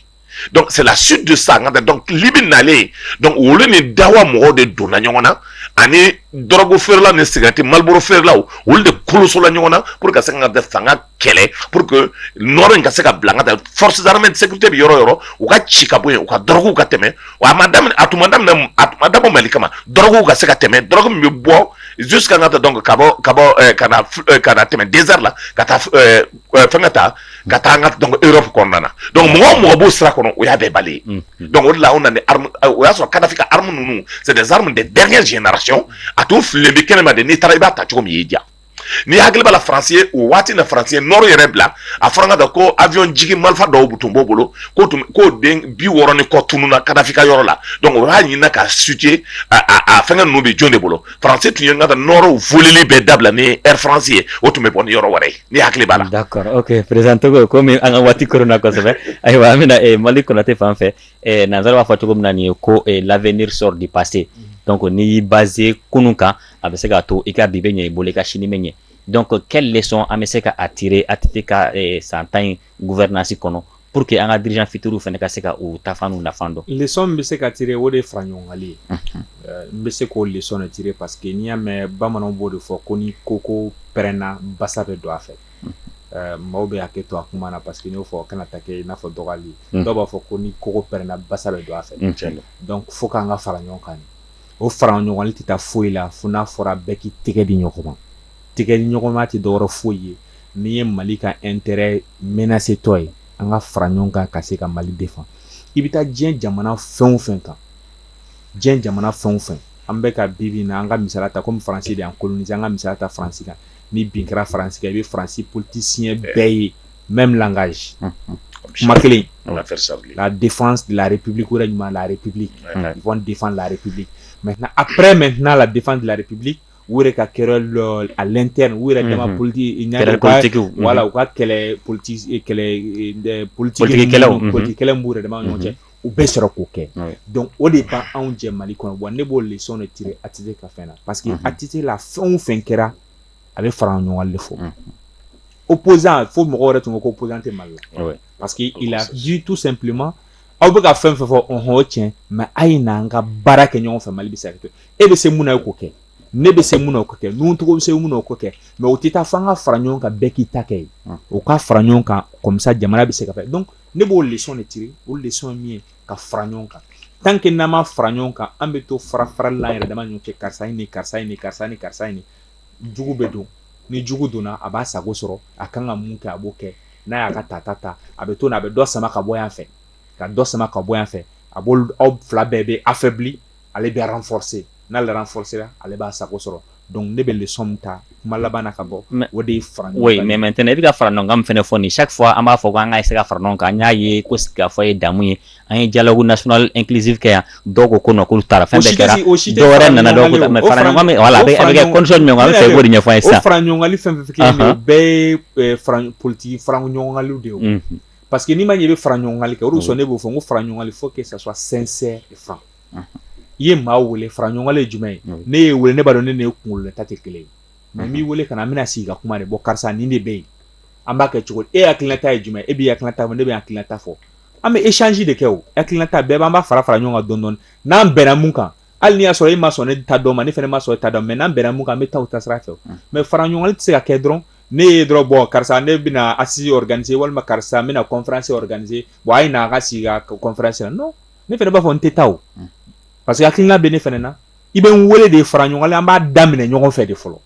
donc c'est la suite de ça ngata donc libi nalen donc olu ni dawa mɔgɔw de donna ɲɔgɔn na ani dɔrɔgu feerela ni sigarɛti maliboro feerelaw olu de kolosola ɲɔgɔn na pour ka se ka ŋa fanga kɛlɛ pour que nord in ka se ka bila ka taa forces armées de sécurité bɛ yɔrɔ o yɔrɔ u k'u ci ka bɔ yen u ka dɔrɔguw ka tɛmɛ wa a ma daminɛ a tun ma daminɛ a tun ma dabɔ mali kama dɔrɔguw ka se ka tɛmɛ dɔrɔgu min bɛ bɔ ka kan ka taa dɔn ka bɔ ka bɔ ka na tɛmɛ désert la ka taa fɛn ka taa ka taa an ka dɔn europe kɔnɔna na donc mɔgɔ o mɔgɔ b'o sira kɔnɔ o y'a bɛɛ balayer donc o la o y'a sɔrɔ kadafi ka armes ninnu c'est des armes de dernière génération a tun fililen bɛ kɛnɛma de n'i taara i b'a ta cogo min y'i diya ni hakili b'a la faransi ye o waati na faransi ye nord yɛrɛ bila a fɔra ka ko avion jigin marifa dɔw tun b'u bolo ko tun ko den bi wɔɔrɔ ni kɔ tununna kadafi ka yɔrɔ la donc o y'a ɲinina ka sute a fɛnkɛ ninnu bɛ jɔn de bolo faransi tun ye n ka nord volili bɛɛ dabila ni air faransi ye o tun bɛ bɔ ni yɔrɔ wɛrɛ ye ni hakili b'a la. d'accord ok président togo komi an ka waati koronna kosɛbɛ ayiwa an bɛna eh, malick konate fan fɛ eh, nansara b'a fɔ cogo min na nin ye ko eh, l'avenir sort du passé donc n'i y'i baser kunun kan a bɛ se k'a to i ka bi bɛ ɲɛ i bolo i ka sini bɛ ɲɛ donc quelle leçon an bɛ se ka a tirer ATT ka eh, san tan in gouvernance kɔnɔ pour que an ka dirigeants futurs fana ka se ka u ta fan n'u nafa dɔn. Leçon min bɛ se ka tirer o de ye faraɲɔgɔnkali ye, unhun, n bɛ se k'o leçon de tirer parce que n'i y'a mɛn bamananw b'o de fɔ ko ni koko pɛrɛnna basa bɛ don a fɛ, unhun, maaw bɛ hakɛ to a kuma na parce que n y'o fɔ o kana taa kɛ i n'a fɔ dɔgɔyali ye, unhun, dɔw b'a fɔ ko ni koko pɛrɛnna basa bɛ don a fɛ, unhun, tiɲɛ don, donc il faut que an ka fara ɲɔgɔn kan de, o faraɲɔgɔnkali tɛ taa foyi la fo n'a fɔra bɛɛ k'i tɛgɛ di ɲɔgɔn ma. tɛgɛ ɲɔgɔnma tɛ dɔ wɛrɛ foyi ye min ye mali ka intérêt menacétɔ ye an ka fara ɲɔgɔn kan ka se ka mali défendre i bɛ taa diɲɛ jamana fɛn fɛn kan diɲɛ jamana fɛn fɛn an bɛ ka bi na an ka misali ta ko faransi de ko an ka misali ta faransi kan ni bin kɛra faransi i bɛ faransi politicien bɛɛ ye mɛ min ka kuma kelen la défense de la république ko ɲuman la république de la république mais après maintenant la défense de la république u yɛrɛ ka querelle interne u yɛrɛ dama politiki wala u ka kɛlɛ politiki politikikɛlaw b'u yɛrɛ dama ɲɔgɔn cɛ u bɛ sɔrɔ k'o kɛ donc o de bɛ anw jɛ mali kɔnɔ wa ne b'o leçon de tirer a tɛ ka fɛn na parce que a tɛ la fɛn o fɛn kɛra a bɛ fara ɲɔgɔn de fɔ opposant fo mɔgɔ yɛrɛ tun ko opposant tɛ mali la parce que il a dit tout simplement aw bɛ ka fɛn fɛ fɔ ɔɔn cɛ mɛ a ye na an ka baara kɛ ɲɔgɔn fɛ mali bɛɛ se kɛ e bɛ se mun ye k'o kɛ ne bɛ se mun o k'o kɛ nin cogo bɛ se mun o k'o kɛ mɛ o tɛ taa fo an ka fara ɲɔgɔn kan bɛɛ k'i ta kɛ o ka fara ɲɔgɔn kan comme ça jamana bɛ se ka dɔn ne b'o de ci o de min ye ka fara ɲɔgɔn kan tant que n'an ma fara ɲɔgɔn kan an bɛ to farafara la yɛrɛ dama ɲɔgɔn cɛ karisa ni karisa ni karisa ni karisa in ɲɛ jugu bɛ don ni jugu donna a b'a sago sɔrɔ a ka kan ka mun kɛ a b'o kɛ n'a y'a ka ta ta ta a bɛ to a bɛ dɔ sama ka bɔ yan fɛ ka dɔ sama ka bɔ yan fɛ a bolo aw fila bɛɛ bɛ affaibli ale bɛ renforcé n'ale renforcéra ale b'a sago sɔrɔ donc ne bɛ leçon ta kuma laban na ka bɔ o de fara mɛ maintenant i bɛ ka fara ɲɔgɔn kan min fana fɔ nin chaque fois an b'a fɔ ko an ka se ka fara ɲɔgɔn kan an y'a ye ko sigikafɔ ye damu ye an ye dialogue national inclusif kɛ yan dɔw ko ko k'olu taara fɛn bɛɛ kɛra dɔw nana fɛ ɲɔgɔn politigi ɲɔgɔn de ye parce que ni maa ɲɛ bɛ fara ɲɔgɔnli kɛ condition ne b'o fɔ ko fara ɲɔgɔnli faut que ça soit franc i ye maa weele fara ɲɔgɔnli ye jumɛn ye ne y'i weele ne b'a dɔn ne de ye kunkolo ta tɛ kelen ye n k'i weele ka na an bɛna sigi ka kuma de bon karisa ni de bɛ yen an b'a kɛ cogo e hakilila ta ye jumɛn e b'i hakilila ta ne bɛ n hakilila ta fɔ an bɛ échange de kɛ o hakilila ta bɛɛ b'an' fara fara ɲɔgɔn kan donc n'an bɛnna min kan hali y'a sɔrɔ i ma sɔn ne ta dɔ ma ne fana ma sɔn i ta dɔ ma n'an bɛnna min kan bɛ taa ta sira fɛ mɛ fara ɲɔgɔn tɛ se ka kɛ dɔrɔn ne ye dɔrɔn bon karisa ne bɛna assises organiser walima karisa n bɛna conférence organiser wa a ye na ka sigi ka conférence yan non ne fana b'a fɔ n tɛ taa parce que hakilila bɛ ne fana na i bɛ n weele de fara ɲɔgɔn an b'a daminɛ ɲɔgɔn fɛ de fɔlɔ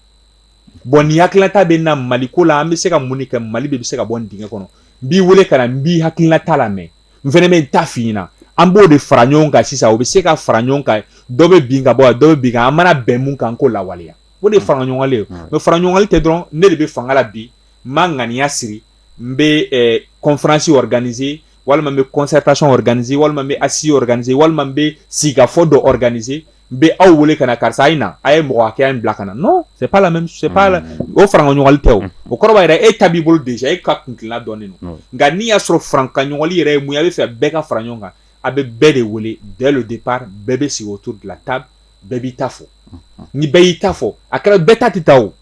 Bon ni hakilila ta bɛ n na mali ko la an bɛ se ka mun kɛ mali de bɛ se ka bɔ dingɛ kɔnɔ n b'i weele ka na n b'i hakilila ta lamɛn n fana bɛ n ta f'i na an b'o de fara ɲɔgɔn kan sisan o bɛ se ka fara ɲɔgɔn kan dɔ bɛ bin ka bɔ dɔ bɛ bin an mana bɛn min kan k'o lawaleya o de fara ɲɔgɔnli ye mɛ fara ɲɔgɔnli tɛ dɔrɔn ne de bɛ fanga la bi n ma ŋaniya siri n bɛ eh, conférence organiser walima n bɛ concertation organiser walima n bɛ assise organiser walima n bɛ sigikafɔ dɔ organiser n bɛ aw wele ka na karisa a ye na a ye mɔgɔ hakɛya in bila ka na non c'est pas la même c'est pas la mm. o farankanɲɔgɔnli tɛ o mm. o kɔrɔ b'a jira e ta b'i bolo déjà e ka kuntilenna dɔnnen don nka n'i y'a sɔrɔ farankanɲɔgɔnli yɛrɛ ye mun ye a bɛ fɛ bɛɛ ka fara ɲɔgɔn kan a bɛ bɛɛ de wele dès le départ bɛɛ bɛ sigi autour de la table bɛɛ b'i ta fɔ mm. ni bɛɛ y'i ta fɔ a kɛra bɛɛ ta tɛ taa o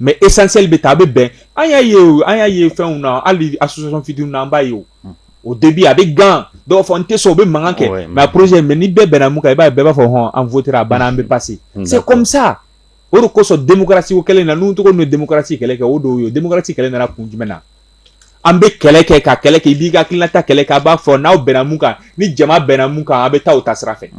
mais essentiel bɛ taa a bɛ bɛn an y'a ye o an y'a ye fɛnw na hali association fitinin na an b'a ye o au début a bɛ gan dɔw fɔ n tɛ sɔn o bɛ mankan kɛ mais projet mais ni bɛɛ bɛnna min kan i b'a bɛɛ b'a fɔ hɔn an votera a banna an bɛ passer c'est comme ça o de kosɔn démocratie kɛlen na n' tɔgɔ don démocratie kɛlɛ kɛ o don ye démocratie kɛlɛ nana kun jumɛn na an bɛ kɛlɛ kɛ ka kɛlɛ kɛ i b'i ka tilata kɛlɛ kɛ a b'a fɔ n'aw bɛnna min kan ni jama bɛnna min kan a bɛ taa ta sira fɛ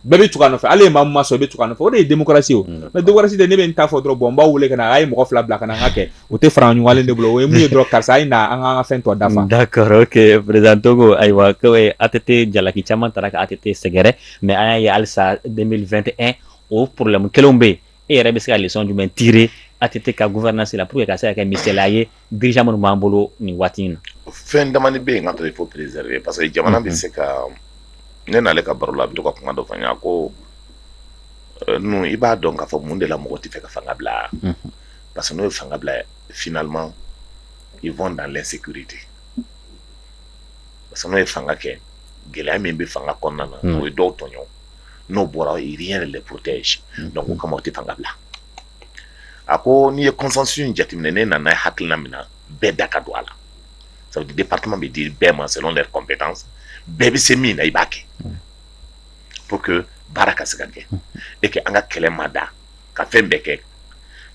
bɛɛ bɛ tugu a nɔfɛ hali ni maa ma sɔn i bɛ tugu a nɔfɛ o de ye démocratie o mais dɔgɔsi de ne bɛ taa fɔ dɔrɔn bon n b'a wele ka na a ye mɔgɔ fila bila ka ka kɛ o tɛ fara ɲɔgɔnlen de bolo o ye mun ye dɔrɔn karisa a ye na an ka fɛn dɔ da ma da présenter o kɔ ayiwa ATT jalaki caman taara ATT sɛgɛrɛ mais an y'a ye halisa 2021 o problème kelenw bɛ yen e yɛrɛ bɛ se ka leçon jumɛn tirer ATT ka gouvernance la pour que a ka se ka kɛ misali ye bija minnu b'an bolo nin waati in na fɛn dama bɛ yen ka to il faut préserver parce que jamana bɛ se ka ne n'ale ka baro la a bɛ to ka kuma dɔ fɔ n ɲɛna ko n i b'a dɔn k'a fɔ mun de la mɔgɔw t'a fɛ ka fanga bila parce que n'o ye fanga bila finalement ils vont dans l'insécurité parce que n'o ye fanga kɛ gɛlɛya min bɛ fanga kɔnɔna na n'o ye dɔw tɔɲɔ n'o bɔra il y a rien qui les protège donc o kama u tɛ fanga bila a ko n'i ye consensus in jateminɛ ne nana hakilina min ye bɛɛ da ka don a la ça veut dire département bɛ di bɛɛ ma selon leur compétence bɛɛ bɛ se min na i b'a kɛ pour que baara ka se ka kɛ e kɛ an ka kɛlɛ mada ka fɛn bɛɛ kɛ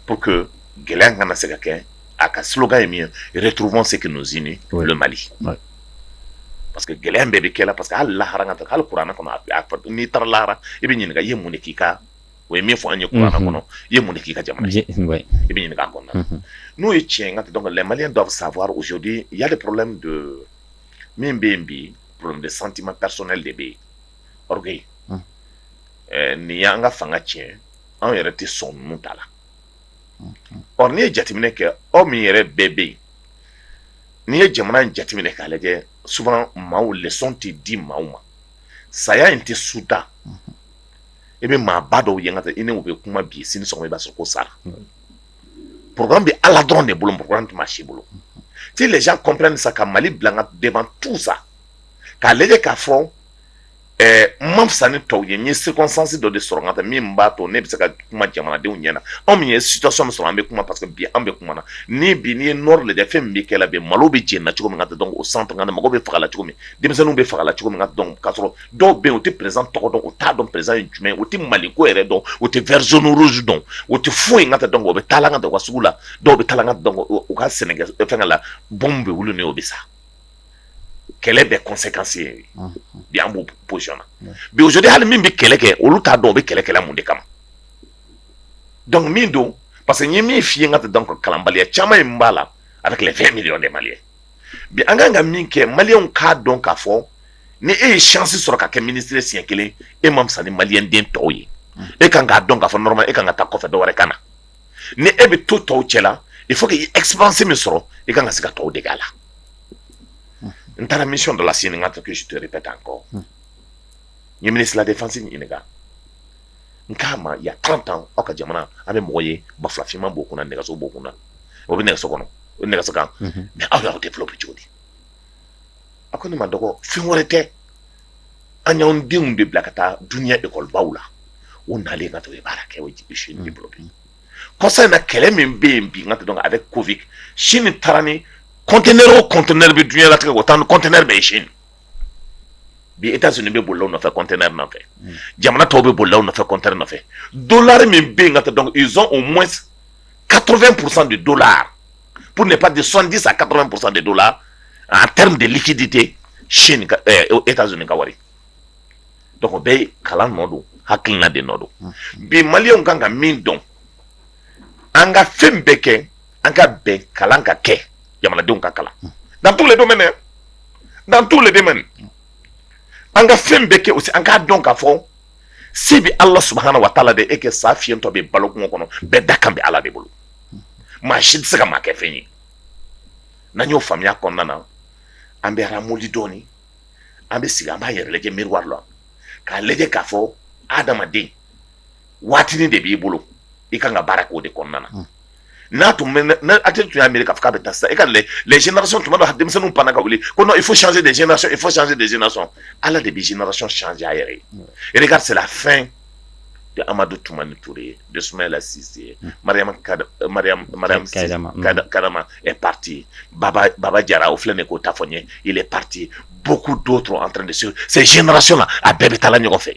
pour que gɛlɛya kana se ka kɛ a ka sokan ye min yɛrɛ turuban se ka ninnuzinali parce que gɛlɛya bɛɛ bɛ kɛlɛ la parce que' lahara kan hali kuranɛ kɔnɔ n'i taara lahara i bɛ ɲininka i ye mun k'i kan o ye min fɔ an ye kuranɛ kɔnɔ i ye mun k'i ka jamana i bɛ ɲininka kɔnɔ n'o ye tiɲɛ ka dɔn les Maliens doivent savoir aujourd'hui il y a des problèmes donc min bɛ yen bi problème de sentiment kasɛ de bɛ yen ɔri yen ɛɛ nin y'an ka fanga tiɲɛ anw yɛrɛ tɛ sɔn ninnu ta la or n'i ye jateminɛ kɛ aw min yɛrɛ bɛɛ bɛ yen n'i ye jamana in jateminɛ k'a lajɛ souvent maaw leçon tɛ di maaw ma saya in tɛ suda i bɛ maa ba dɔw yan ka i n bɛ kuma bi situation i b'a sɔrɔ ko sa p bɛ ala dɔrɔn de bolo tun si bolo tɛ les gens comprennent ça ka mali bila devant tout sa k'a lajɛ k'a fɔ ma fisa ni tɔw ye ye circonstance dɔ de sɔrɔ ka tɛ min b'a to ne bɛ se ka kuma jamanadenw ɲɛna na anw min ye situation sɔrɔ an bɛ kuma pa bi an bɛ kuma na ni bi n'i ye nord lajɛ fɛn min bɛ kɛlɛ bi malo bɛ jɛ na cogo min ka dɔn o san tankan mɔgɔ bɛ faga la cogo min denmisɛnninw bɛ faga la cogo min ka dɔn ka sɔrɔ dɔw bɛ yen u tɛ perezidan tɔgɔ dɔn u t'a dɔn perezidan ye jumɛn u tɛ mali ko yɛrɛ dɔn u tɛ vert jaune rouge dɔn u tɛ foyi in ka tɛ dɔn u bɛ taa ka da ka sugu la dɔw bɛ taa ka dɔn u ka sɛnɛ fɛn la bon bɛ wuli min o bɛ sa kɛlɛ bɛ conséquence ye bi an b'o boyana bide hali min bɛ kɛlɛ kɛ olu t'a dɔn u bɛ kɛlɛ kɛ la mun de kama donc mun don parce que ye min f'i ka tɛ dɔn kalanbaliya caman in b'a la a bɛ kɛlɛ fɛn miya de mali ye bi an kan ka min kɛ maliyɛnw k'a dɔn k'a fɔ ni e ye chance sɔrɔ ka kɛ minisiri ye siɲɛ kelen e ma fisa ni maliden tɔw ye e kan k'a dɔn k'a fɔ normalement e kan ka taa kɔfɛ dɔ wɛrɛ ka na ni e bɛ to tɔw cɛ la il faut que i expérience min sɔrɔ i kan ka se ka tɔw dege a la n taara mission dɔ la sini ka to kisi to bɛ taa kɔ ɲa defansi ɲini n k'a ma il y a trente ans aw ka jamana a bɛ mɔgɔ ye banfula finman b'o kunna nɛgɛso b'o kunna o bɛ nɛgɛso kɔnɔ o nɛgɛso kan mais aw y'aw développer cogo di a ko ne ma dɔgɔ fɛn wɛrɛ tɛ an y'an denw de bila ka taa dunya ekɔlibaw la o nalen ka to ye baara kɛ aujourd'hui sini bolo bi kɔsa in na kɛlɛ min bɛ yen bi n ka dɔn après covid sini taara ni conteneurs conteneur bɛ dunya latigɛ u taara ni conteneur bɛɛ ye sini bi e sun bɛ bolo nɔfɛ kɔnte nɔfɛ jamana tɔw bɛ bolo nɔfɛ kɔnte nɔfɛ don la min bɛ yen ka taa dɔn izɔn o mɔ katooro psan de don la p de pa di sɔndi sa ka psan de don la a taara de liki di tɛ sini e ka zoni ka wari bɛ kalan nɔ don hakiina de nɔ don bi mali kan ka min dɔn an ka fɛn bɛɛ kɛ an ka bɛn kalan ka kɛ jamanadenw ka kalan dans tous les domaines dans tous les domaines an ka fɛn bɛɛ kɛ aussi an k'a dɔn k'a fɔ se bɛ ala subahana wa taala de ye kɛ sa fiyentɔ bɛ balo kungo kɔnɔ bɛɛ dakan bɛ ala de bolo maa si tɛ se ka maa kɛ fɛn ye n'an y'o faamuya kɔnɔna na an bɛ ramollir dɔɔni an bɛ sigi an b'an yɛrɛ lajɛ miroir la k'a lajɛ k'a fɔ adamaden waatinin de b'i bolo i ka kan ka baara k'o de kɔnɔna na n'a tun tun y'a miiri ka bɛ taa sa e ka lajɛsi tun don denmisɛnninw pan ka wuli ko il faut changer de génération il faut changer de génération ala de bɛ génération changer yɛrɛ ye e ka c'est la fin de amadu tumani ture de sumayila sise yema karama est parti baba jara o filɛ de k'o ta fɔ n ye est parti bo ko don dɔrɔn an de sen génération a bɛɛ bɛ taa ɲɔgɔn fɛ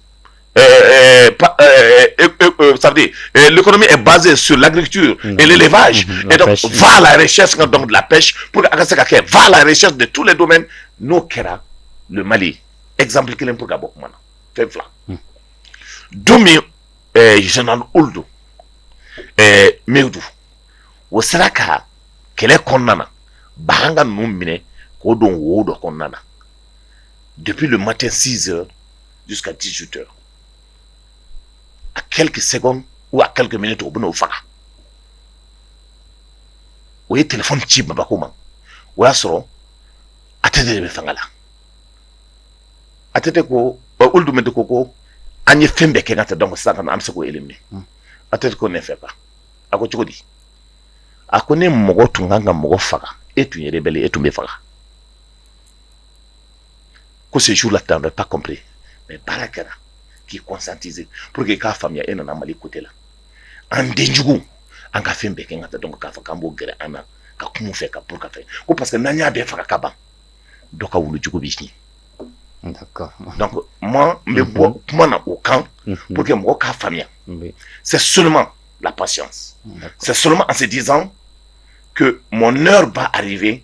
sadi kɔnɔmi base su lagrikitu lelefaze fa la sɛs ka dɔn la psi pur a ka se ka kɛ fa la sɛti de tu la don n'o kɛra mali ezsanp kelen bɛ ka bɔ kuma na fɛn fila don min z olu don midu o sera ka kɛlɛ kɔnɔna na bagan ka ninnu minɛ k'o don wo dɔ kɔnɔna na depuis le matin cinq heures six heures à quelques secondes à quelques minutes u b'o faga o ye téléphone ci bamakɔ o y'a sɔrɔ ATT de bɛ fanga la ATT ko olu tun bɛ de ko ko an ye fɛn bɛɛ kɛ ka tɛ dama sa ka an bɛ se e minɛ a tɛ ko ne fɛ a ko cogo di a ko ne mɔgɔ tun kan ka mɔgɔ faga e tun yɛrɛ bɛ e tun bɛ faga Ko se la tan bɛ kɔnp mais baara kɛra k'i conscientiser pour que i k'a faamuya e nana mali côté la an denjugu an ka fɛn bɛɛ kɛ ka taa dɔn k'a fɔ k'an b'o gɛrɛ an na ka kun fɛ ka ka fɛ ko parce que n'an y'a bɛɛ faga ka ban dɔ ka wulujugu b'i cin maa n bɛ bɔ kuma na o kan pour que mɔgɔ k'a faamuya c'est seulement la patience c'est seulement en se disant que mon heure va arriver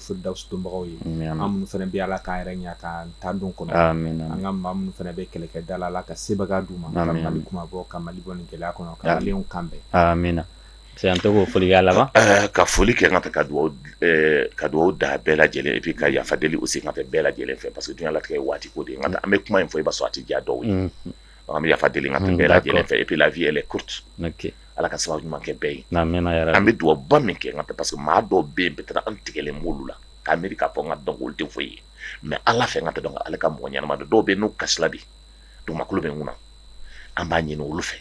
dawusibagaw ye minnu fana bɛ ala ka yɛrɛ ɲɛ ka tan don kɔnɔ an ka maa minnu fana bɛ kɛlɛkɛda la ala ka sebagaya d'u ma kuma bɔ ka mali bɔ nin gɛlɛya kɔnɔ ka kan bɛɛ min na an tɛ foli laban ka foli kɛ ka ka ka dugawu da bɛɛ lajɛlen et puis ka yafa deli aussi ka bɛɛ lajɛlen fɛ parce que diɲɛ latigɛ waati ko de an bɛ kuma in fɔ i b'a sɔrɔ a tɛ diya dɔw ye an bɛ yafa deli ka tun bɛɛ lajɛlen fɛ et puis lafiy yɛlɛ kurutu ala ka sababu ɲuman kɛ bɛɛ ye n'an mɛn yɛrɛ an bɛ dugawuba min kɛ ka parce que maa dɔw bɛ yen bɛ taa an tigɛlen bolo la k'a miiri k ka fɔ ka dɔn de fɔ ye mɛ ala fɛ ka dɔn ale ka mɔgɔ ɲɛnama dɔw bɛ n'u kasi de dugukolo bɛ kunna an b'a ɲini olu fɛ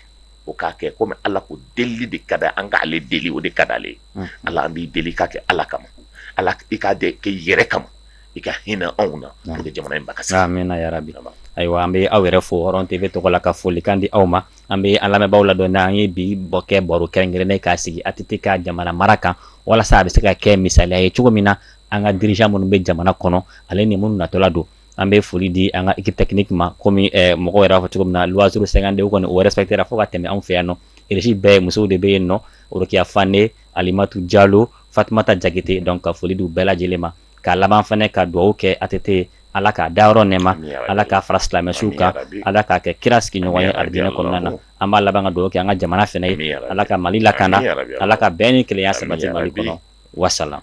o k'a kɛ komi ala ko deli de ka an ka ale deli o de ka ale ala an b'i deli k'a kɛ ala kama ala i k'a kɛ yɛrɛ kama i ka hinɛ anw na jamana in ba min yɛrɛ bi ayiwa an bɛ aw yɛrɛ fɔɔrɔn tɛ bɛ tɔgɔ la ka foli kan di aw ma an bɛ an lamɛnbaa ladɔn n' an ye bi bɔ kɛ baro kɛrɛnkɛrɛnnen k'a sigi ATT ka jamana mara kan walasa a bɛ se ka kɛ misali ye cogo min na an ka dirigeants minnu bɛ jamana kɔnɔ ale ni minnu natɔla don an bɛ foli di an ka équipe technique ma kɔmi mɔgɔ yɛrɛ fɔ cogo min na waz sɛgɛnganden kɔni o wɛrɛ kɛra fo ka tɛmɛ anw fɛ yan nɔ kisi bɛɛ musow de bɛ yen n'o orokiya fane alimatu jalo fatumata jakite don ka foli d'u bɛɛ lajɛlen ma ka laban fana ka dugawu kɛ ATT ye Ala k'a dayɔrɔ nɛɛma amii yarabi Ala k'a fara silamɛsuw kan amii yarabi Ala k'a kɛ kira sigiɲɔgɔn ye amii yarabi alijana kɔnɔna na an b'a laban ka dugawu kɛ an ka jamana fɛnɛ ye amii yarabi Ala ka Mali lakanda amii yarabi Ala ka bɛn ni kelenya sabati amii yarabi Mali kɔnɔ wasalaam